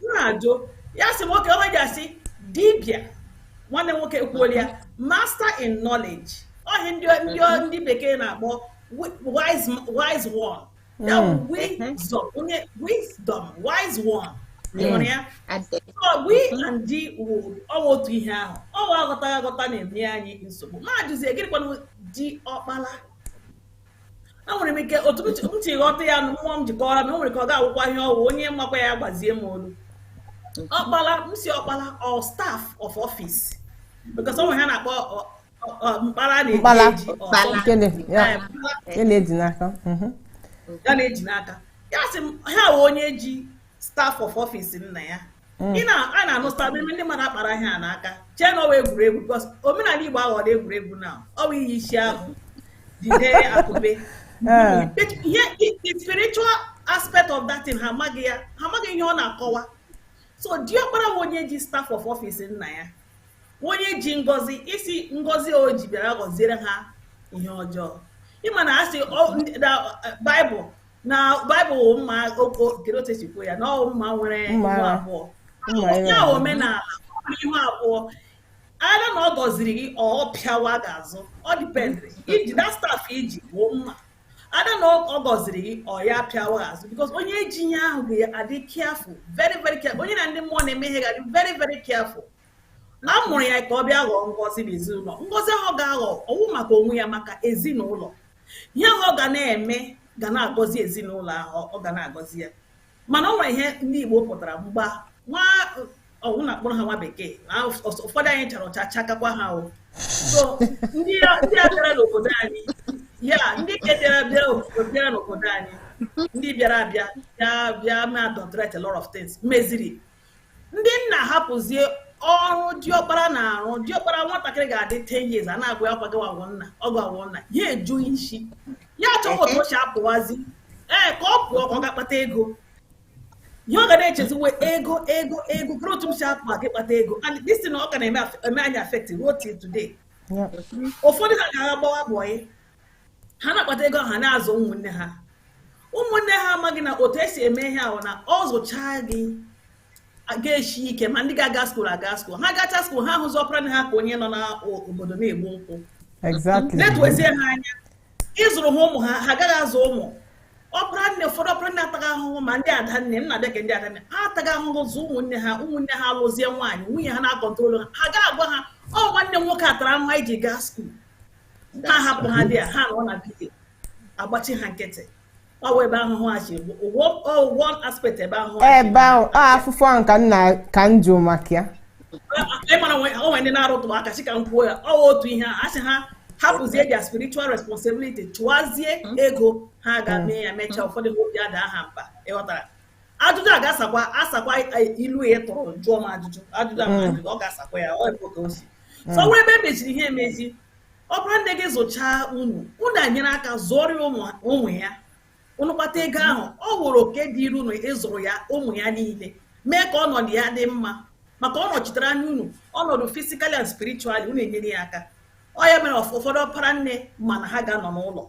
na-ajụ ya sị nwoke ọ wụ ihe e ji asị dibịa nwanne m nwoke ekwuola ya master in knowledge ọ ihe ndị ndị ndị bekee na-akpọ wi- wise wise one ya bụ Mm. wisdom onye wisdom wise one ị hụrụ ya Ade. So we and di wụ ọ wụ otu ihe ahụ ọ wụ aghọtaghị aghọta na-eme anyị nsogbu mụ ajụzie gịnịkwanụ di ọkpala enwere m ike otu m si ghọta ya na mmụọ m ji kọọrọ m o nwere ike ọ ga-awụkwa ihe ọ wụ onye makwa ya gbazie m olu ọkpala m sị ọkpala ọ staff of office because o nwere ihe a na-akpọ mkpara a na-eji ya na-eji n'aka ya na-eji n'aka ya sị m ha wụ onye ji staff of office nna ya mm. ị na-ahụ sometimes ndị mmadụ akpara ihe a n'aka chee na ọ wụ egwuregwu because omenala igbo aghọla egwuregwu na ọ bụ iyi isi agụ jide akupe eh. ihe the spiritual aspect of that thing ha amaghị ya ha amaghị ihe ọ na-akọwa so diọkpara bụ onye ji staff of office nna ya onye ji ngọzi isi ngọzi o ji bịara gọziere ha ihe ọjọọ ịma na a sị baịbụl na baịbụl wụ mma oko kere otu e si kwuo ya na ọ mma nwere Mma ihu agha. abụọ Mma agha. ya omenala ọ nwere ihu abụọ ada na ọ gọziri gị ọ pịawa gị azụ ọ dependịrị iji na staff i ji bụ mma ada na ọ gọziri gị ọ ya pịawa gị azụ because onye ji ihe ahụ ga-adị careful very very careful onye na ndị mmụọ na-eme ihe ga-adị very very careful na a mụrụ ya ka ọ bịa ghọọ ngọzi n'ezinụlọ ngọzi ahụ ga-aghọ ọ wụ maka onwe ya maka ezinụlọ ihe ahụ ọ ga na-eme ga na-agọzi ezinụlọ ahụ ọ ga na-agọzi ya mana ọ nwere ihe ndị Igbo pụtara mgba nwa ọ wụ na a kpọrọ ha nwa bekee na ụfọdụ anyị chara ọcha chakakwa ha o so ndị a bịara n'obodo anyị ya ndị nke bịara bịara n'obodo anyị ndị bịara abịa bịa bịa ma adulterate a lot of things meziri ndị nna hapụzie ọrụ diọkpara na-arụ diọkpara nwatakịrị ga-adị 10 years a na-agwa ya kwago agwụ nna ọgụ agwụ nna ya ajụ isi ya achọwa otu o si apụwazi ee ka ọ pụọ ka ọ gaa kpata ego ihe ọ ga na-echeziwe ego ego ego kere otu m si apụ aga ịkpata ego and this thing na ọ ka na-eme anyị affect ruo till today ụfọdụ ha ga-aga gbawa bọyị ha na-akpata ego ha na-azụ ụmụnne ha ụmụnne ha amaghị na otu e si eme ihe ahụ na ọ zụchaa gị ga-eshi ike ma ndị ga-aga skuul aga skuul ha gacha skuul ha hụzi ọpara nne ha ka onye nọ n'obodo na-egbu nkwụ na-etuezie ha anya ịzụrụ ha ụmụ ha ha agaghị azụ ụmụ ọpara nne ụfọdụ ọpara nne ataa ahụhụ ma ndị ada nne m na-abịa ka ndị ada nne ha ataga ahụhụ zụ ụmụnne ha ụmụnne ha alụzie nwaanyị nwunye ha na-akọntrolu ha ha ga-agwa ha ọ nwanne m nwoke a tara ahụhụ anyị ji gaa skuul ha hapụ ha dị ya ha nọ na be ya agbachi ha nkịtị ọ wụ ebe ahụhụ a si ọ wụ one aspect ebe ahụhụ a si ebe ahụ a afụfụ
ahụ ka nna ka m jụrụ maka ya ị
mara o nwere ndị na-arụtụ aka sị ka m kwuo ya ọ wụ otu ihe a sị ha hapụzie their spiritual responsibility chụwazie ego ha ga mee ya mechaa ụfọdụ obi adaa ha mba ị ghọtara ajụjụ a ga-asakwa asakwa ilu ya tụrụ jụọ m ajụjụ ajụjụ a mm. ọ ga-asakwa ya ọ bụ ka o si mm. so ọ wụrụ ebe e meziri ihe emezi ọpara nne gị zụchaa unu unu enyere aka zụọrọ ya ụmụ ya unu kpata ego ahụ ọ wụrụ oke dịịrị unu ịzụrụ ya ụmụ ya niile mee ka ọnọdụ ya dị mma maka ọ nọchitere anya unu ọnọdụ physically and spiritually unu enyere ya aka ọ ya mere ụfọdụ ọpara nne mana ha ga-anọ n'ụlọ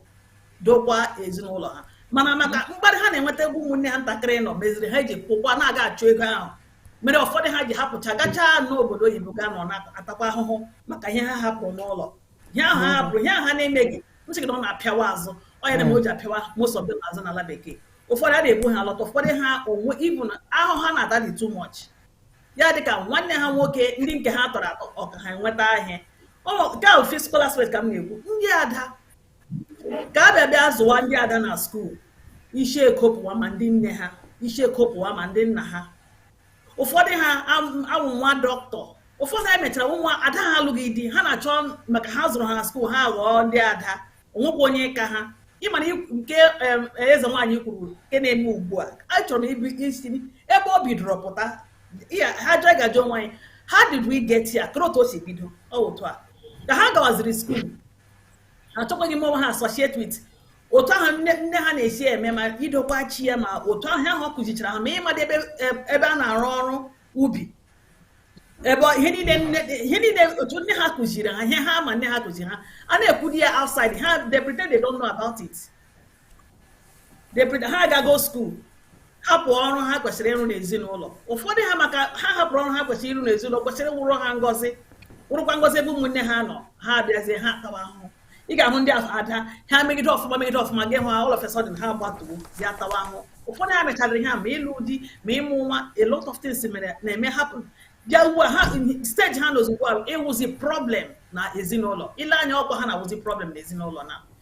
dokwa ezinụlọ ha mana maka mm-hmm. mkparị ha na-enweta ebe ụmụnne ha ntakịrị nọ meziri ha ji pụkwa na-aga achụ ego ahụ mere ụfọdụ ha ji hapụcha gachaa n'obodo oyibo ga nọ na-atakwa ahụhụ maka ihe ha hapụrụ n'ụlọ ihe ahụ ha mm-hmm. hapụrụ ihe ahụ ha na-emeghị m sị gị na ọ na-apịawa azụ ọ ya na-eme o ji apịawa most of them azụ n'ala bekee ụfọdụ a na-ebu ha alọta ụfọdụ ha onwe even ahụhụ ha na-ata dị too much ya dịka nwanne ha nwoke ndị nke ha tọrọ atọ aka ha enweta ahịa nke ahụ physical aspect ka m na-ekwu ndị ada ka a bịa bịa zụwa ndị ada na skuul isi ekopụwa ma ndị nne ha isi ekopụwa ma ndị nna ha ụfọdụ ha awụwa dọkịta ụfọdụ ha emechara nwa ada ha alụghị di ha na-achọ maka ha zụrụ ha na skuul ha ghọọ ndị ada o nwekwa onye ka ha ị ma na nke eze nwaanyị kwuru nke na-eme ugbu a achọrọ m isi ebe o bidoro pụta anyị ga-ajụ onwe anyị how did we get here kere otu o si bido ọ otu a ka ha gawaziri skuul achọkwaghị m ha associate with otu ahụ nne ha na-esi eme ma idokwa chi ya ma otu ahụ ọ kụzichara ha ma ịmadị ebe a na-arụ ọrụ ubi ebe ihe niile otu nne ha kụziri ha ihe ha ma nne ha kụziri ha a na-ekwudi ya outside ha they pretend they don't know about it ha agago skuul hapụ ọrụ ha kwesịrị ịrụ n'ezinụlọ ụfọdụ ha maka ha hapụrụ ọrụ ha kwesịrị ịrụ n'ezinụlọ kwesịrị wụrụ ha ngọzi wụrụkwa ngọzi ebe ụmụnne ha nọ ha abịazie ha tawa ahụhụ ị ga-ahụ ndị ada ha megide ọfụma megide ọfụma gị hụ ha all of a sudden ha gbatuo bịa tawa ahụhụ ụfọdụ ha mechara ihe a ma ịlụ di ma ịmụ nwa a lot of things mere na-eme happen bịa ugbu a ha stage ha nọzi ugbu a ịwụzi problem na ezinụlọ i lee anya ọkwa ha na-awụzi problem na ezinụlọ na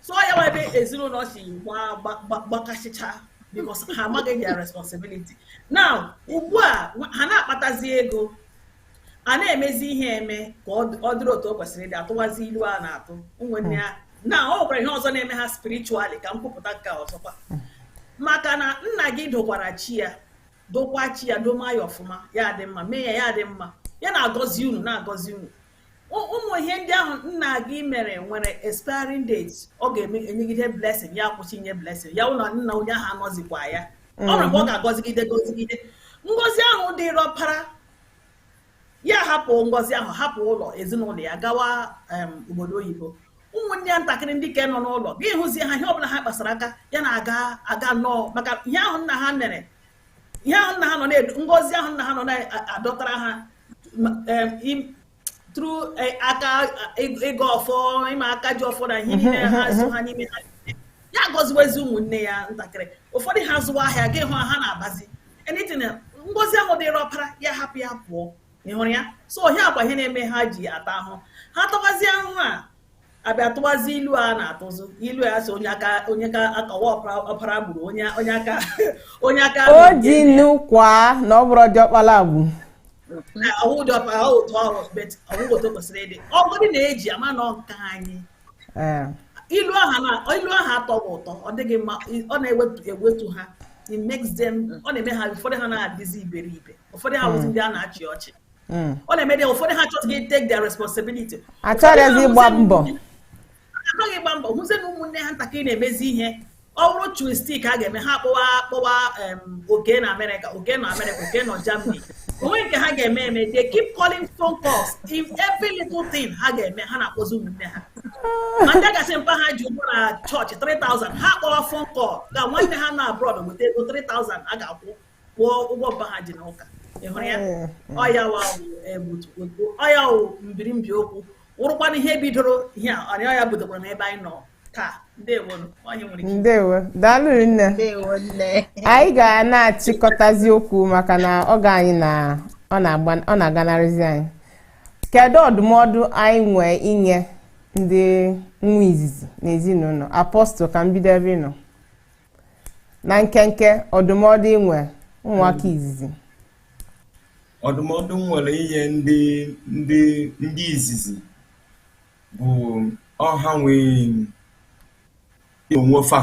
so ya wụ ebe ezinụlọ si gbakasịcha because ha amaghị their responsibility now ugbu a ha na-akpatazi ego a na-emezi ihe eme ka ọ dịrị otu o kwesịrị ịdị atụwazi ilu a na-atụ ụmụnne ya na ọ nwekwara ihe ọzọ na-eme ha spiritually ka m kwupụta nke ọzọkwa maka na nna gị dokwara chi ya dokwa chi ya doma ya ọfụma ya dị mma mee ya ya dị mma ya na-agọzi unu na-agọzi unu ụmụ ihe ndị ahụ nna gị mere nwere expiring date ọ ga-enyegide blessing ya kwụsị inye blessing ya ụlọ nna onye ahụ anọzikwa ya o nwere mgbe ọ mm-hmm. ga-agọzigide gọzigide ngọzi ahụ dịrị ọpara ya hapụ ngọzi ahụ hapụ ụlọ ezinụlọ ya gawa obodo oyibo ụmụnne ya ntakịrị ndị ka nọ n'ụlọ gị hụzie ha ihe ọbụla ha kpasara aka ya na-aga nnọọ maka ihe ahụ nna ha mere ihe ahụ nna ha nọ na-edu ngọzi ahụ nna ha nọ na-adọtara ha through e, aka e, ịgọ ọfọ ịma aka ji ọfọ na ihe mhm, niile ha mhm, so mhm. ha n'ime ha ya gọziwezi ụmụnne ya ntakịrị ụfọdụ ha zụwa ahịa gị hụ ha na-abazi anything ngọzi ahụ dịrị ọpara ya hapụ ya pụọ ị hụrụ ya so ihe a kwa ihe na-eme ha ji ata ahụ ha tabazie ahụhụ a abịa tụwazi ilu a na-atụzi ilu a sị onye aka onye ka aka wụ ọpara gburu onye onye aka onye aka o ji nnu
kwa na ọ bụrụ diọkpala agbu ọwụ dị ọkpa ọ otu ọrụ
but ọwụ otu kwesịrị ịdị ọ bụrụ na eji ama na nke anyị eh. ilu ahụ ilu ahụ atọghị ụtọ ọ dịghị mma ọ na-ewetu ha it makes them ọ na-eme ha ụfọdụ ha na-adịzi iberibe ụfọdụ ha wụzi hmm. ndị a na-achị ọchị hmm. ọ na-eme ndị ụfọdụ ha achọghị take their responsibility achọghịzi
ịgba mbọ achọghị
ịgba mbọ hụzie na ụmụnne ha ntakịrị na-emezi ihe ọ bụrụ twistik a ga-eme ha kpọwa kpọwa oke nọ amerịka oke nọ amerịka oke nọ germany o nwee nke ha ga-eme eme they keep calling phone calls in every little thing ha ga-eme ha na-akpọzi ụmụnne ha ma ndị ga-asị mpa ha ji ụgwọ na chọọchị 3000 ha kpọwa phone call ka nwanne ha nọ abroad weta ego 3000 a ga-akwụ kwụọ ụgwọ mpa ha ji n'ụka ị hụrụ ya mm, mm. ọ ya ọ ya wụ mbirimbi okwu wụrụkwanụ ihe bidoro ihe a ọ ya ọ ya
budokwara n'ebe anyị nọ taa ndewo daalụ nne anyị ga na-achịkọtazi okwu maka na oge anyị na ọ na-aganarịzi anyị kedu ọdụmọdụ anyị nwee inye ndị nwa izizi n'ezinụlọ apọstụl ka m bido ebe ị nọ na nkenke ọdụmọdụ i nwe ụmụaka
izizi ọdụmọdụ m nwere inye ndị ndị ndị izizi bụ ọ ha nwee onwe fa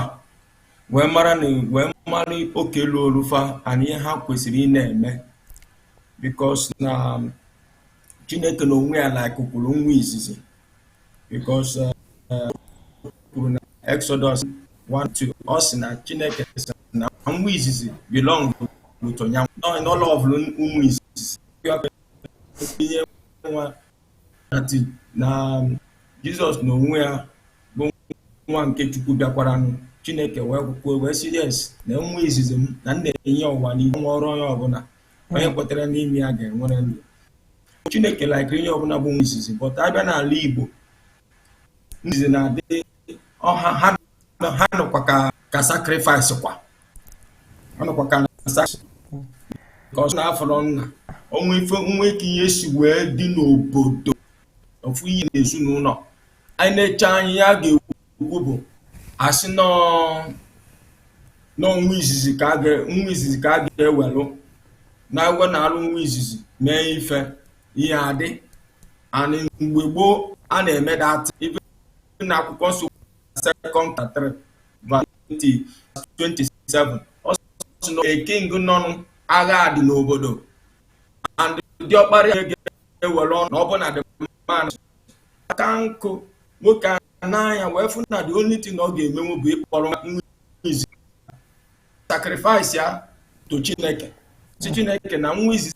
wee mara na wee mara oke luulu fa na ihe ha kwesịrị ịna-eme because na chineke na onwe ya like kwuru nwa izizi because uh, uh, kwuru na Exodus 1:2 ọ sị na Chineke sị na nwa izizi belong to ya n'ụlọ ọbụla ụmụ izizi ihe nwa na um, Jizọs na onwe ya bụ nwa nke Chukwu bịakwara Chineke wee kwuo wee sị yes na nwa izizi m na m na-enye ụwa n'ihe nwa ọ bụrụ onye ọbụla onye kwetara n'ime ya ga-enwere ndụ chineke like ihe ọbụla bụ nwa izizi but a bịa n'ala igbo izizi na-adị ọ ha ha nọkwa ka ka sacrifice kwa ha nọkwa ka ka ọ na-afọrọ nna o nwe ife nwa ka ihe si wee dị n'obodo ofu ihe n'ezinụlọ anyị na-eche anyị ya ga-ekwu kwu bụ a sị na ọ nwa izizi ka nwa izizi ka a ga-ewelụ na-agwọ na-alụ nwa izizi mee ife ihe adị and mgbe gboo a na-eme that ife na akwụkwọ nsọ Second Kings 3 verse 27 ọ sị na king nọnụ agha dị n'obodo and diọkpara ya ga-ewelụ na ọ bụ na the man aka nkụ nwoke a n'anya wee fụ na the only thing ọ ga-emenwu bụ ịkpọrọ nwa izizi sacrifice ya to Chineke si Chineke na nwa izizi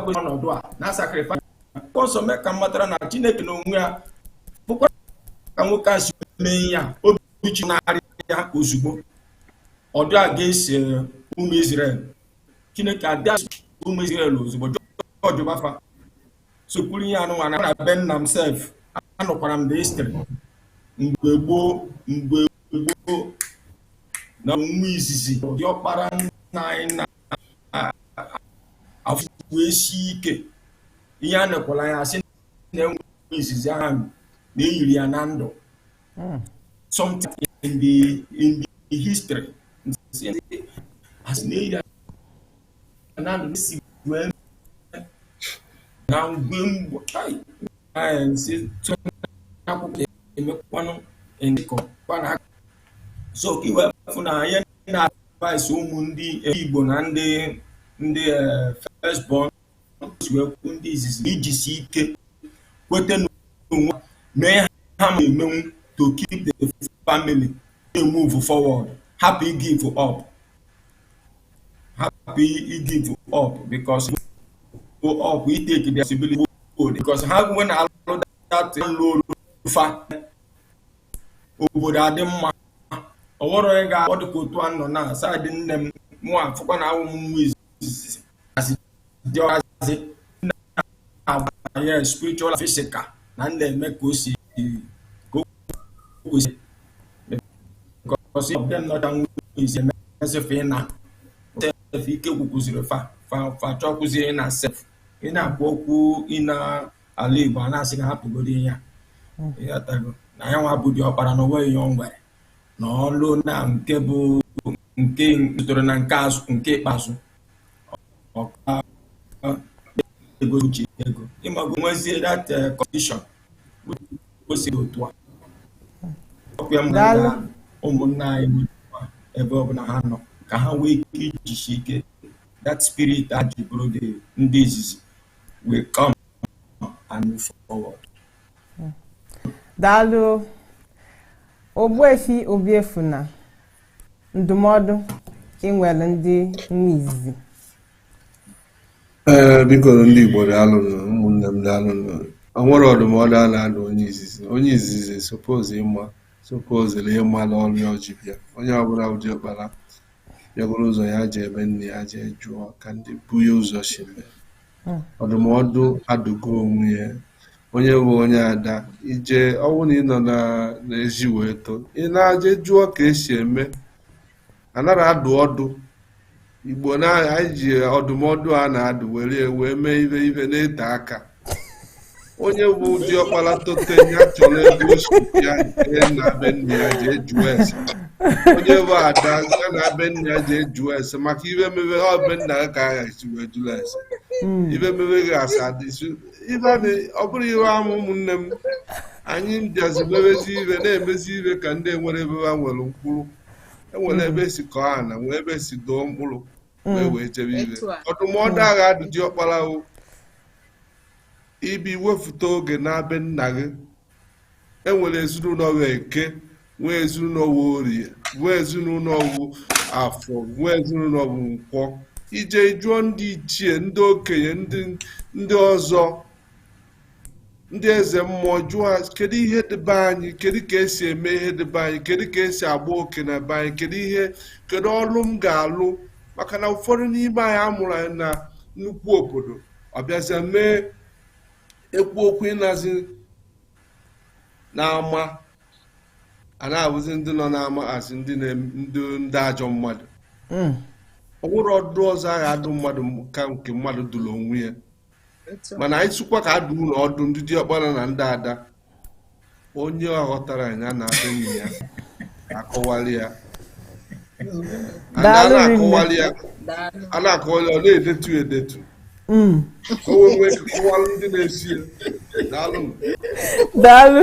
kwesịrị ọnọdụ a na sacrifice akwụkwọ nsọ mee ka m matara na Chineke n'onwe ya fụkwa ka nwoke a si mee ya obi chigharịa ozugbo ọdụ a ga-esi ụmụ Izrel Chineke abịa ụmụ Izrel ozugbo jọjụba fa sokwuru ihe a nụnwa na na be nna m sef anụkwara m the history mgbe gboo mgbe gboo na nwa izizi diọkpara nna anyị na afụkwu esi ike ihe a nekwala ya a sị na nwa izizi ahụ na eyiri ya na ndụ hmm. something in the in the history as na eyiri na ndụ si wee na ngwe mgbo si tụ akwụkwọ emekwanụ ndịkọ kwana so ka i wee fụ na ihe na-advise ụmụ ndị Igbo na ndị ndị eh, first born si wee kwu ndị izizi ijisi ike kweta n'onwe mee ihe ha ma-emenwu to keep the family na-emove forward hapụ igive up hapụ igive up because go up we take the responsibility old because ha nwe na-alụ that ọlụ ọlụ fa obodo adị mma ọ wụrụ onye ga-akpọ dịka otu a nọ na side nne m mụ afụkwa na awụ m nwa izizi dịọazị na-agbanye spiritual physical na ndị eme ka o si ka o kwesị because of them not and is emesịfe ị na sef ike gwụkwụziri fa fa fa chọkwụziri na sef ị na-akwu okwu ị naa ala Igbo a na-asị ka a hapụgodi ya ịghọtago na ya nwa bụ diọkpara na o nweghị ihe o nwere na ọlụ na nke bụ nke tọrọ na nke azụ nke ikpeazụ ọ ka ego o ji ego ịmago nwezie that eh, condition o si otu a ọkwa ya mụ Daalụ. na ụmụnna anyị nọ n'ụwa ebe ọ bụla ha nọ ka ha nwee ike ijisi ike that spirit a ji bụrụ the ndị izizi will come and move
forward. daalụ Ogbuefi Obiefuna ndụmọdụ i nwere ndị nwa izizi
ee biko ndị Igbo daalụnụ ụmụnne m daalụnụ o nwere ọdụmọdụ a na-adụ onye izizi onye izizi suppose ịma suppose-li ịma na ọrụ ya o ji bịa onye ọ bụla bụ diọkpara ya buru ụzọ ya je be nne ya je jụọ ka ndị bu ya ụzọ si mee hmm. ọdụmọdụ adụgo onwe ya onye bụ onye ada ije ọ wụ na ị nọ n'ezi wee too ị na-aje jụọ ka esi eme anara adụ ọdụ igbo na anyị ji ọdụmọdụ a na-adụ were wee mee ibe ibe na-ete aka onye bụ diọkpara tote ya chọrọ ebe o si bịa nke na be nna ya je jụọ ese onye bụ ada ya na be nna ya je jụọ ese maka ibe mebe ọ be nna ya ka a ga-esi wee jụọ ese ibe mebe ga-asa adịsu ibe a na- ọ bụrụ ihe ama ụmụnne m anyị bịazi mebezi ibe na-emezi ibe ka ndị nwere ebe ha nwere mkpụrụ enwere ebe e si kọọ ana nwee ebe e si doo mkpụrụ mm. wee wee jebe ibe ọdụmọdụ mm. a ga-adụ diọkpara wụ ibi wefute oge na be nna gị enwere ezinụlọ wụ eke nwee ezinụlọ wụ orie nwee ezinụlọ wụ afọ nwee ezinụlọ wụ nkwọ i je jụọ ndị ichie ndị okenye ndị ọzọ ndị eze mmụọ jụọ kedu ihe dị be anyị kedu ka esi eme ihe dị be anyị kedu ka esi agba oke na be anyị kedu ihe kedu ọlụ m ga-alụ maka na ụfọdụ n'ime anyị amụrụ anyị na nnukwu obodo ọ bịazịa mee ekwu okwu ị nọzi n'ama a na-abụzi ndị nọ n'ama asị ndị ndị ajọ mmadụ hmm. o nwerọ ọdụ ọzọ a ga-adụ mmadụ ka nke mmadụ dụrụ onwe ya mana anyị sụkwa ka adụ ụlọ ọdụ ndị diọkpara na ndị ada onye ọ ghọtara ya na adị enyi ya akọwali ya a na-akọwali ya ọ na-edetu edetu mm. ka o wee kọwalụ ndị na-esi ya daalụ
daalụ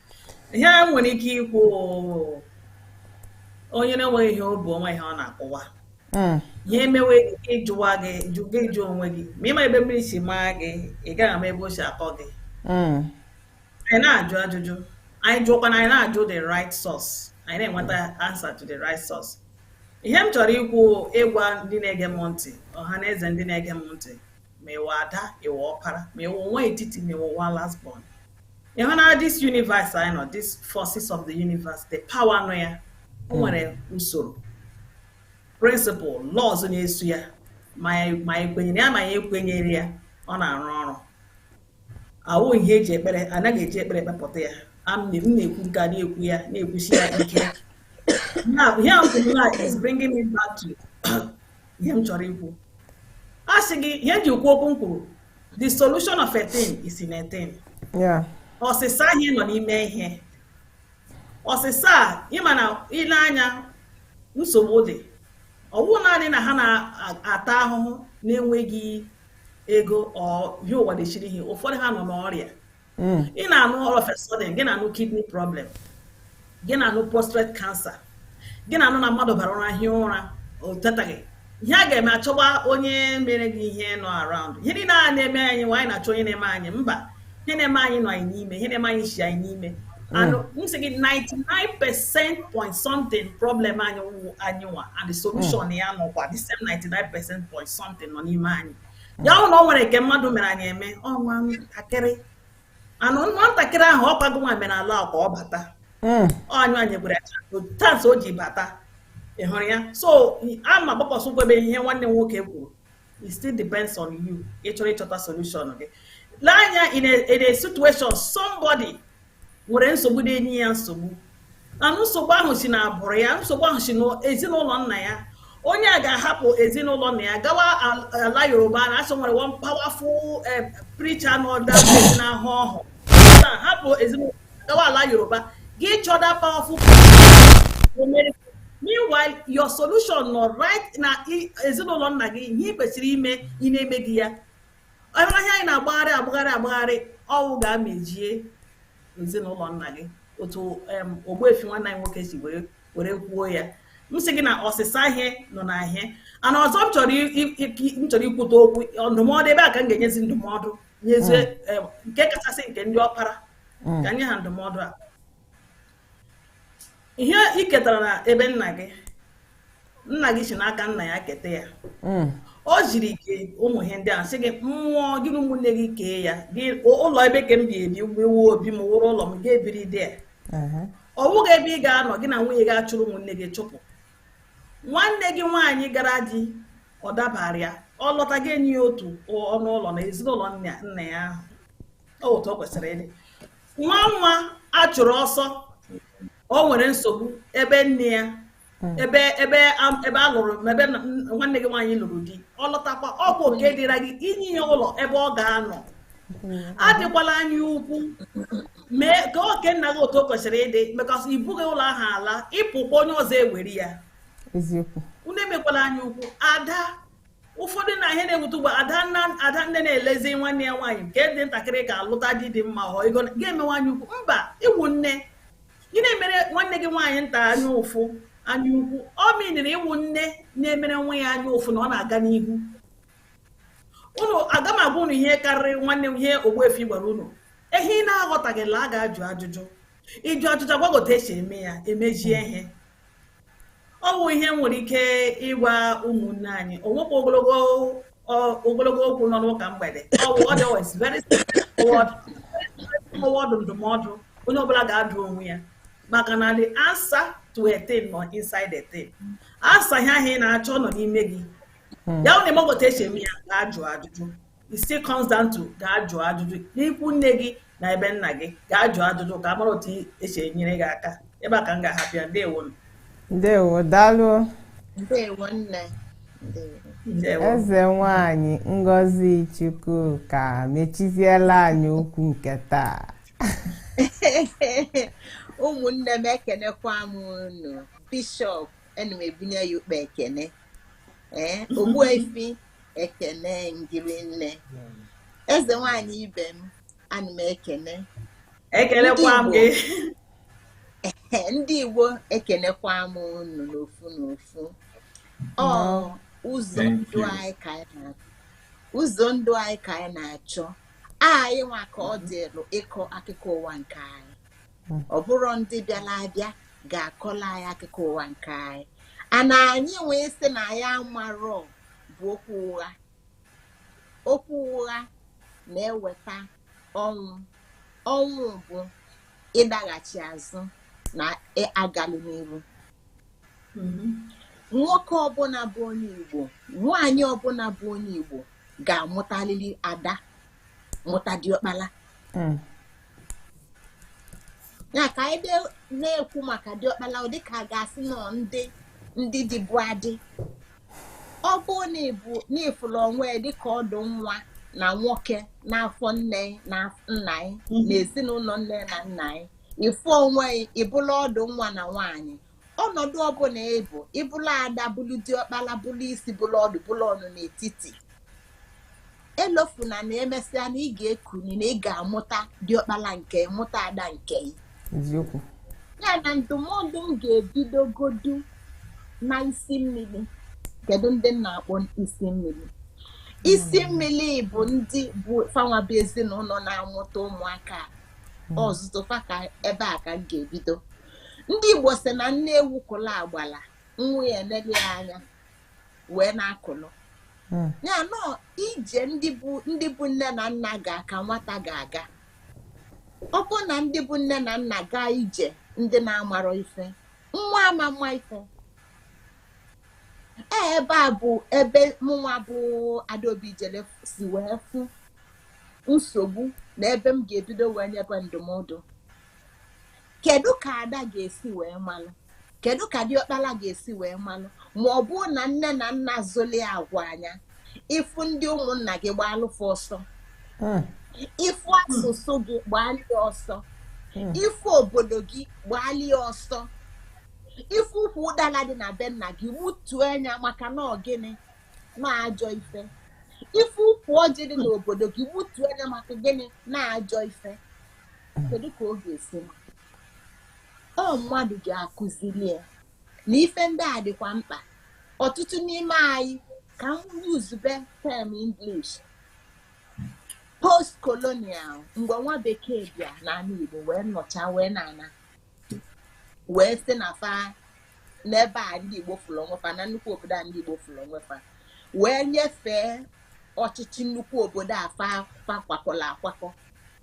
ihe a nwere ike ikwu onye na-enweghị ihe o bu o nweghị ihe ọ na-akụwa hmm. ihe
emewe
ịjụwa gị gị jụọ onwe gị ma ị ma ebe mmiri si maa gị ị gaghị ama ebe o si akọ gị
hmm.
anyị na-ajụ ajụjụ anyị jụọkwana anyị na-ajụ the right source anyị na-enweta answer to the right source ihe m chọrọ ikwu ịgwa ndị na-ege m ntị ọha na eze ndị na-ege m ntị ma ị wụ ada ị wụ ọpara ma ị wụ nwa etiti ma ị wụ nwa last born ị hụ na this universe anyị nọ this forces of the universe the power nọ ya o hmm. nwere usoro principle laws na-eso ya ma anyị kwenyere ya ma anyị ekwenyere ya ọ na-arụ ọrụ awụ ihe eji ekpere anaghị eji ekpere ekpepụta ya m na-ekwu nke a na-ekwu ya na-ekwusi ya ike now here is bringing me back to ihe m chọrọ ikwu a sị gị ihe m ji kwuo okwu m kwuru the solution of a thing is in a thing
ọsịsa ihe
nọ n'ime ihe ọsịsa a ị ma na i lee anya nsogbu dị ọ wụ naanị na ha na-ata ahụhụ na-enweghị ego or ihe ụwa dechiri ihe ụfọdụ ha nọ n'ọrịa hmm. ị na-anụ all of a sudden gị na-anụ kidney problem gị na-anụ prostate cancer gị na-anụ na mmadụ bara ụra hie ụra o tetaghị ihe a ga-eme a chọba onye mere gị ihe nọ around ihe niile a na-eme anyị nwa anyị na-achọ onye na-eme anyị mba ihe na-eme anyị nọ anyị n'ime ihe na-eme anyị si anyị n'ime hmm. and m sị gị 99 percent point something problem anyị anyị nwa and the solution hmm. ya nọkwa the same 99 percent point something nọ n'ime anyị ya wụ na o nwere nke mmadụ mere anyị eme ọ nwa ntakịrị and nwa ntakịrị ahụ ọ kwa gị nwa mere allow ka ọ bata hmm. ọ anyị nyekwere chance o ji bata ị hụrụ ya so a ma gbakwasị ụkwụ ebe ihe nwanne m nwoke kwuru it still depends on you ị chọrọ ịchọta solution gị lee anya in a, in a situation somebody nwere nsogbu na-enye ya nsogbu and nsogbu ahụ si na agbụrụ ya nsogbu ahụ si n'ezinụlọ nna ya onye a ga-ahapụ ezinụlọ nna ya gawa ala yoruba na a sị o nwere one powerful eh, preacher nọ there na-ahụ ọhụ hapụ ezinụlọ gawa ala yoruba gaa ịchọ that powerful meanwhile your solution nọ right na ezinụlọ nna gị ihe ị kwesịrị ime ị na-emeghị ya ọ wụ ihe anyị na-agbagharị agbagharị agbagharị ọ wụ gaa mezie ezinụlọ nna gị otu ogbuefi nwanne anyị nwoke si were kwuo ya m sị gị na ọsịsa ihe nọ na ihe and ọzọ m chọrọ ikwute okwu ndụmọdụ ebe a ka m ga-enyezi ndụmọdụ nyezie hmm. nke kachasị nke ndị ọkpara hmm. ka m nye ha ndụmọdụ a ihe ị ketara na ebe nna gị nna gị si n'aka nna ya keta ya hmm. o ziri gị ụmụ ihe ndị a sị gị m nwụọ gị na ụmụnne gị kee ya gị ụlọ ebe a ka m ga-ebi ebe a wụ obi m wụrụ ụlọ m ga-ebiri there ọ bụghị ebe ị ga-anọ gị na nwunye gị achụrụ ụmụnne gị chụpụ nwanne gị nwaanyị gara di ọ dabara ya ọ lọta gị enye ya otu ọnụ ụlọ na ezinụlọ nna ya ọ wụ otu o kwesịrị ịdị nwa nwa a chụrụ ọsọ o nwere nsogbu ebe nne ya hmm. ebe ebe ebe a lụrụ ebe nwanne gị nwaanyị lụrụ di ọ lọtakwa ọ bụ oke dịra gị inye ya ụlọ ebe ọ ga-anọ hmm. adịkwala anya ukwu mee kee oke nna gị otu o kwesịrị ịdị because i bughị ụlọ ahụ ala ị pụkwa onye ọzọ ewere ya
unu emekwala
anya ukwu ada ụfọdụ na ihe na-ewute ugbu a ada nne na-elezi nwanne ya nwaanyị nke dị ntakịrị ka alụta di dị mma ọ ego ga-emewe anya ukwu mba ị wụ nne ị na-emere nwanne gị nwaanyị nta anya ụfụ anya ukwu ọ miniri ị wụ nne na-emere nwa ya anya ụfụ na ọ na-aga n'ihu unu aga m agwa unu ihe karịrị nwanne m ihe ogbuefi gwara unu ihe ị na-aghọtaghịla gaa jụọ ajụjụ ị jụọ ajụjụ a gwa gị otu esi eme ya emejie ihe ọ wụ ihe m nwere ike ịgwa ụmụnne anyị o nweghị ogologo okwu nọ n'ụka mgbede ọ wụ ọdụ ndụmọdụ onye ọbụla ga-adụ onwe ya maka na the answer to a thing nọ inside a thing answer ihe ahụ ị na-achọ nọ n'ime gị hmm. ya wụ na ị maghị otu esi eme ya gaa jụọ ajụjụ it still comes down to gaa jụọ ajụjụ n'ikwu nne gị na ebe nna gị gaa jụọ ajụjụ ka a mara otu esi enyere gị aka ebe a ka m ga-ahapụ ya ndewo m ndewo
daalụ ndewo nne eze nwanyị Ngozi Chukwuka mechiziela anyị okwu nke
taa ụmụnne m ekenekwa m unu bishọp ana m ebunye ya ukpe ekene ee eh, ogbuefi ekene m gị rinne eze nwanyị ibe m ana m ekene ekelekwa m gị ndị Igbo ekenekwa m unu n'ofu n'ofu ọ ụzọ ndụ anyị ka anyị na-achọ ụzọ ndụ anyị ka anyị na-achọ anyị nwa ka ọ dịrụ ịkọ akụkọ ụwa nke anyị hmm. ọ bụrọ ndị bịara abịa ga-akọlụ anyị akụkọ ụwa nke anyị ana anyị wee sị na anyị amarọ bụ okwu ụgha okwu ụgha na-eweta ọnwụ ọnwụ bụ ịdaghachi azụ na agarọ n'iru hmm. nwoke ọbụna bụ onye Igbo nwaanyị ọbụna bụ onye Igbo ga-amụtalili ada mụta diọkpala hmm. ya ka anyị na-ekwu maka diọkpala ọ dịka a ga-asị na ọ ndị ndị dịbu adị ọ bụrụ na ị fụlụ onwe yị dịka ọdụ nwa na nwoke n'afọ nne na nna yị mhm. na ezinụlọ nne na nna yị ị fụ onwe yị ị bụlụ ọdụ nwa na nwaanyị ọnọdụ ọbụna ị bụ ị bụlụ ada bụlụ diọkpala bụlụ isi bụlụ ọdụ bụlụ ọ nọ n'etiti elofuna na emesịa na ị ga-ekuni na ị ga-amụta diọkpala nke yị mụta ada nke
yị na
ndụmọdụ m ga-ebidogodu na isi mmiri kedu ndị m na-akpọ isi mmiri isi hmm. mmiri bụ ndị bụ fanwa bụ ezinụlọ na-amụta ụmụaka hmm. ọzụzụ fa ka ebe a ka m ga-ebido ndị Igbo si na nne ewu kụla agbala nwa ya enele ya anya wee na-akụlụ hmm. ya nọ ije ndị bụ nne na nna ga ka nwata ga-aga ọ bụ na ndị bụ nne na nna gaa ije ndị na-amarọ ife nwa ama ama ife e, ebe a bụ ebe mụnwa bụ adaobi jele si wee fụ nsogbu na ebe m ga-ebido wee nyebe ndụmọdụ kedu ka ada ga-esi wee malụ kedu ka diọkpala ga-esi wee malụ ma ọ bụ na nne na nna zụlị ya gwa nya ị fụ ndị ụmụnna gị gbaalụ fa ọsọ hmm. ị fụ asụsụ gị gbaalie ọsọ hmm. ị fụ obodo gị gbaalie ọsọ ị fụ ukwu ụdala dị na be nna gị gbutuo nya maka na ọ gịnị na ajọ ife ị fụ ukwu ọjị dị n'obodo gị gbutuo nya maka gịnị na ajọ ife kedu ka ọ ga-esi ma ọ mmadụ ga-akụziri ya na ife ndị a dịkwa mkpa ọtụtụ n'ime anyị ka m yuzube term English post colonial mgbe nwa bekee bịa n'ana Igbo wee nọcha wee na-ana wee sị na fa n'ebe a ndị Igbo fụrụ onwe fa na nnukwu obodo a ndị Igbo fụrụ onwe fa wee nyefee ọchịchị nnukwu obodo a fa kwakọla akwakọ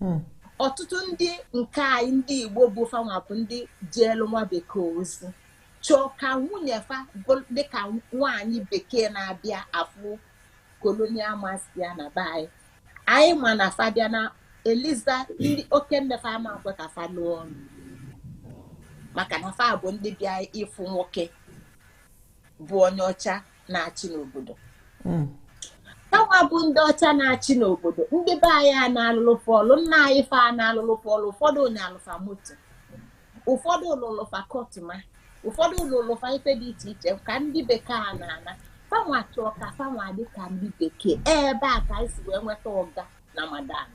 hmm. ọtụtụ ndị nke anyị ndị Igbo bụ fanwa bụ ndị jeelụ nwa bekee ozi chọọ ka nwunye fa dịka nwaanyị bekee na-abịa afụ colonial master ya na be anyị anyị ma na fa bịa na eliza ndị oke nne fa ama-ekwe ka fa lụọ ọlụ maka na fa bụ ndị bịa ịfụ nwoke bụ onye ọcha na-achị n'obodo hmm. fanwa bụ ndị ọcha na-achị n'obodo ndị be anyị a na-alụlụ fa ọlụ nna anyị fa a na-alụlụ fa ọlụ ụfọdụ anyalụ fa moto ụfọdụ alụlụ fa kọtụma ụfọdụ alụlụ fa ife dị iche iche ka ndị bekee a na-ana fanwa chọọ ka fanwa dị ka ndị bekee ebe a ka anyị si wee nweta ọga na madam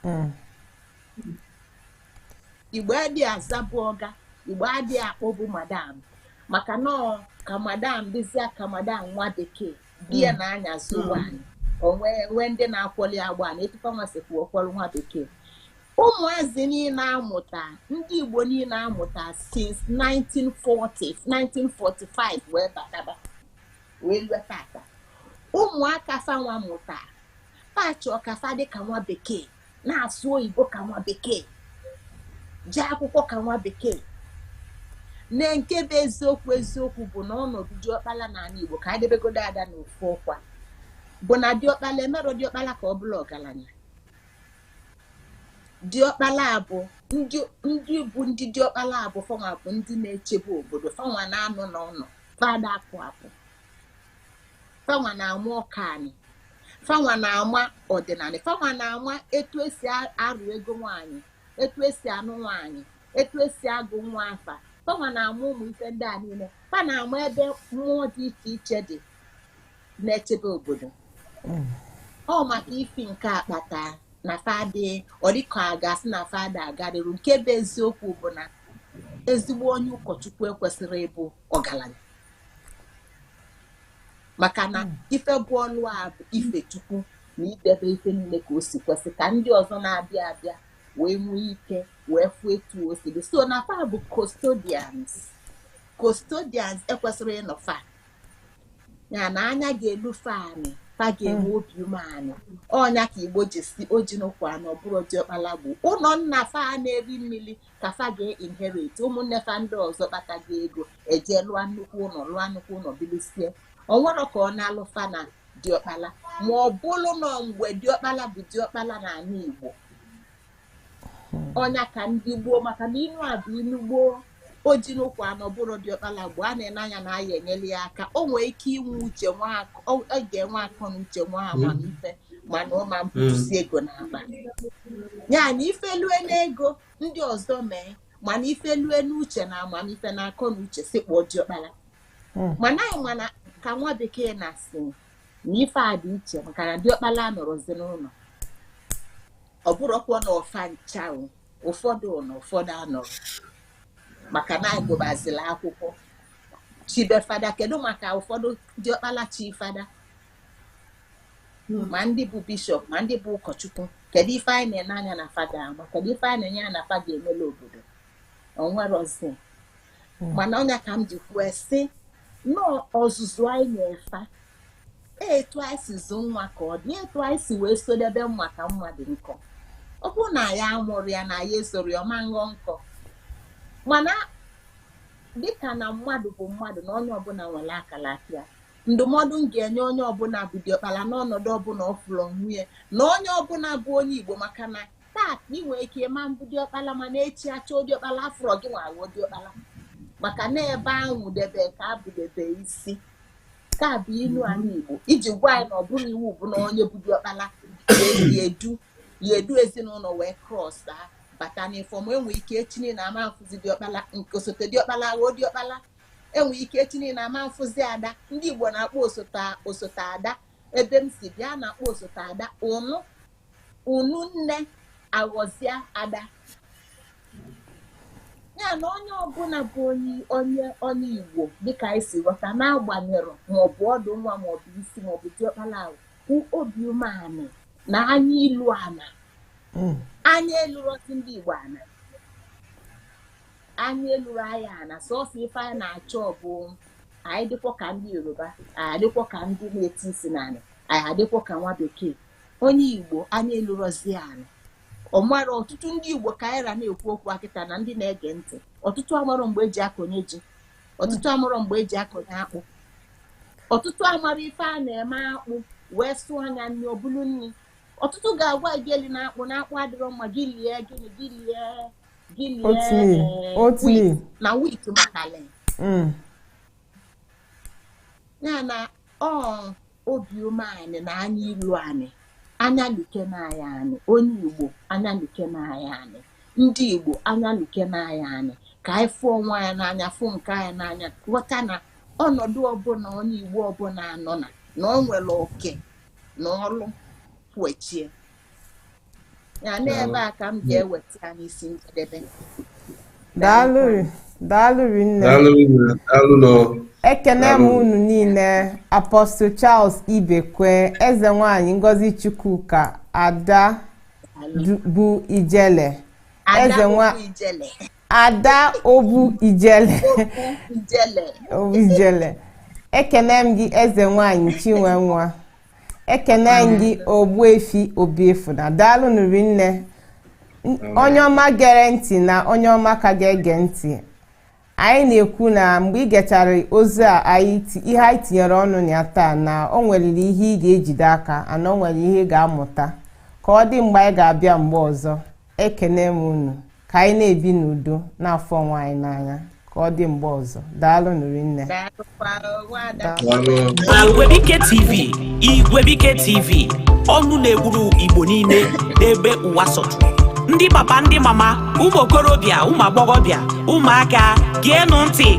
hmm. igbo adị azabu ọga igbo adị akpọbu madam maka na ọ ka madam dịzịa ka madam nwa bekee bịa hmm. na-anyazị ụgbọ hmm. onwe nwee ndị na-akwọlị ya ụgbọ ana etu fanwa sikwu akwọrọ nwa bekee ụmụazị niile amụta ndị igbo niile amụta since 1940 1945 wee bataba wee lue tata ụmụaka fanwa mụta fa chọọ ka fa dịka nwa bekee na-asụ oyibo ka nwa bekee jee akwụkwọ ka nwa bekee na nke bụ eziokwu eziokwu bụ na ọnọdụ diọkpala n'anị Igbo ka anyị debegodo ada na ofu ọkwa bụ na diọkpala emerọ diọkpala ka ọ bụlụ ọgalanya diọkpala bụ ndị bụ ndị diọkpala a bụ fanwa bụ ndị na-echebe obodo fanwa na-anọ n'ụnọ fa ada apụ apụ fanwa na-ama oke anị fanwa na-ama ọdịnanị fanwa na-ama etu esi arụ ego nwaanyị etu esi anụ nwaanyị etu esi agụ nwa afa fanwa na-ama ụmụ ife ndị a niile fa na-ama ebe mmụọ dị iche iche dị na-echebe obodo mm. ọ maka ifi nke a kpata na fa dị ọ dịka a ga-asị na fa ada aga iru nke bụ eziokwu bụ na ezigbo onye ụkọchukwu ekwesịrọ ịbụ ọgalanya maka na hmm. ife bụ ọlụ a bụ ife chukwu na idebe ife niile ka o si kwesị ka ndị ọzọ na-abịa abịa wee nwee ike wee fụ etu o si dị so na fa bụ custodians custodians ekwesịrị ịnọ fa ya na anya ga-elu fa anị fa ga-enwe hmm. obi umeanị ọ nya ka igbo ji sị o ji n'ụkwụ anọ bụrụ diọkpala gboo ụnọ nna fa na-eri mmiri ka fa ga-inherit ụmụnne fa ndị ọzọ kpatago ego eje lụọ nnukwu ụnọ lụọ nnukwu ụnọ bilisie o nwerọ ka ọ na-alụ fa na diọkpala ma ọ bụrụ na mgbe diọkpala bụ diọkpala na anị Igbo ọ nya ka ndị gboo maka na inu a bụ inu gboo o ji n'ụkwụ anọ bụrụ diọkpala gboo a na-ene anya na a ya-enyelu ya aka o nwee ike inwe uche ọ ga-enwe akọ na uche nwee amamife mana ọ ma mpụtụsi ego n'akpa ya na ife lue n'ego ndị ọzọ mee mana ife lue n'uche na amamife na akọ na uche sị kpọọ diọkpala hmm. mana anyị ma na ka nwa bekee na-asị na ife a dị iche maka na diọkpala anọrọzi n'ụnọ ọ bụrọkwa na ọ fa ncha ụfọdụ nọ ụfọdụ anọrọ maka na anyị gụbazila akwụkwọ chibe fada kedu maka ụfọdụ diọkpala chi fada ma ndị bụ bishọp ma ndị bụ ụkọchukwu kedu ife anyị na-ene anya na fada ama kedu ife anyị na-ene anya na fada emela obodo o nwerọzi mana ọ nya ka m ji kwue sị na ọ ọzụzụ anyị na-enye fa etu anyị si zụ nwa ka ọ dị etu anyị si wee sodebe mma ka mma dị nkọ ọ bụrụ na ya amụrọ ya na ya esorọ ya ọ ma nghọ nkọ mana dịka na mmadụ bụ mmadụ na onye ọbụla nwere akala aka ya ndụmọdụ m ga-enye onye ọbụla bụ diọkpala n'ọnọdụ ọbụla ọ fụrụ onwe ya na onye ọbụla bụ onye igbo maka na taa ị nwere ike ịma mbụ diọkpala mana echi achọ diọkpala afụrọ gị nwa aghọ diọkpala maka na ebe anwụdebe ka abụdebe isi ka bụ ilu anyị igbo iji gwa anyị na ọ bụrọ iwu bụ na onye bụ diọkpala ga-edu ya edu ezinụlọ wee cross bata n'ifọm enwere ike echi niile ama mfụzi diọkpala nke osote diọkpala ghọọ diọkpala enwere ike echi niile ama mfụzi ada ndị Igbo na-akpọ osote ada ebe m si bịa na-akpọ osote ada unu nne aghọzie ada ya na onye ọbụla bụ onye onye onye Igbo dịka anyị si ghọta n'agbanyerọ maọbụ ọdụ nwa maọbụ isi maọbụ diọkpala ahụ kwụ obi umeanị na anya ilu ana hmm. anya elurọzi ndị Igbo ana anya elurọ anyị ana sọsọ ife anyị na-achọ bụ anyị dịkwọ ka ndị yoruba anyị adịkwọ ka ndị na-eti isi n'ala anyị adịkwọ ka nwa bekee onye igbo anya elurọzi ana ọmara ọtụtụ ndị igbo ka anyị ra na-ekwu okwu a kịta na ndị na-ege ntị ọtụtụ amarọ mgbe eji akọnye ji ọtụtụ amarọ mgbe eji akọnye akpụ ọtụtụ amarọ ife a na-eme akpụ wee sụa nya nri ọ bụrụ nri ọtụtụ ga-agwa gị elina akpụ na akpụ adịrọ mma gị lie gịnị gị lie gịnị oatmeal eh, oatmeal wheat na wheat matale Mm. ya na ọ obi umeanị na anya ilu anị anya lukene anyị anị onye igbo anya lukene anyị anị ndị igbo anya lukene anyị anị ka anyị fụ onwe anyị n'anya fụ nke anyị n'anya ghọta na ọnọdụ ọbụla onye igbo ọbụla nọ na na o nwere oke na ọlụ kwechie ya n'ebe a ka m ga-eweta ya n'isi njedebe daalụ
daalụ rinne ekene m unu niile Apostle Charles Ibekwe eze nwanyị Ngozi Chukwuka ada bụ Ijele eze nwa ada obu Ijele obu Ijele ekene m gị eze nwanyị Chinwenwa ekene gị ogbuefi obiefuna daalụnụ rinne onye ọma gere ntị na onye ọma ka ga-ege ntị anyị na-ekwu na mgbe ị gechara ozi a ihe anyị tinyere ọnụ na ya taa na o nwere ihe ị ga-ejide aka and o nwere ihe ị ga-amụta ka ọ dị mgbe anyị ga-abịa mgbe ọzọ ekene m unu ka anyị na-ebi n'udo na-afụ onwe anyị n'anya ka ọ dị mgbe ọzọ daalụnụ rinne
Igwebike TV ọnụ na-ekwuru Igbo niile n'ebe ụwa sọtụrụ ndị papa ndị mama ụmụ okorobịa ụmụ agbọghọbịa ụmụaka geenụ ntị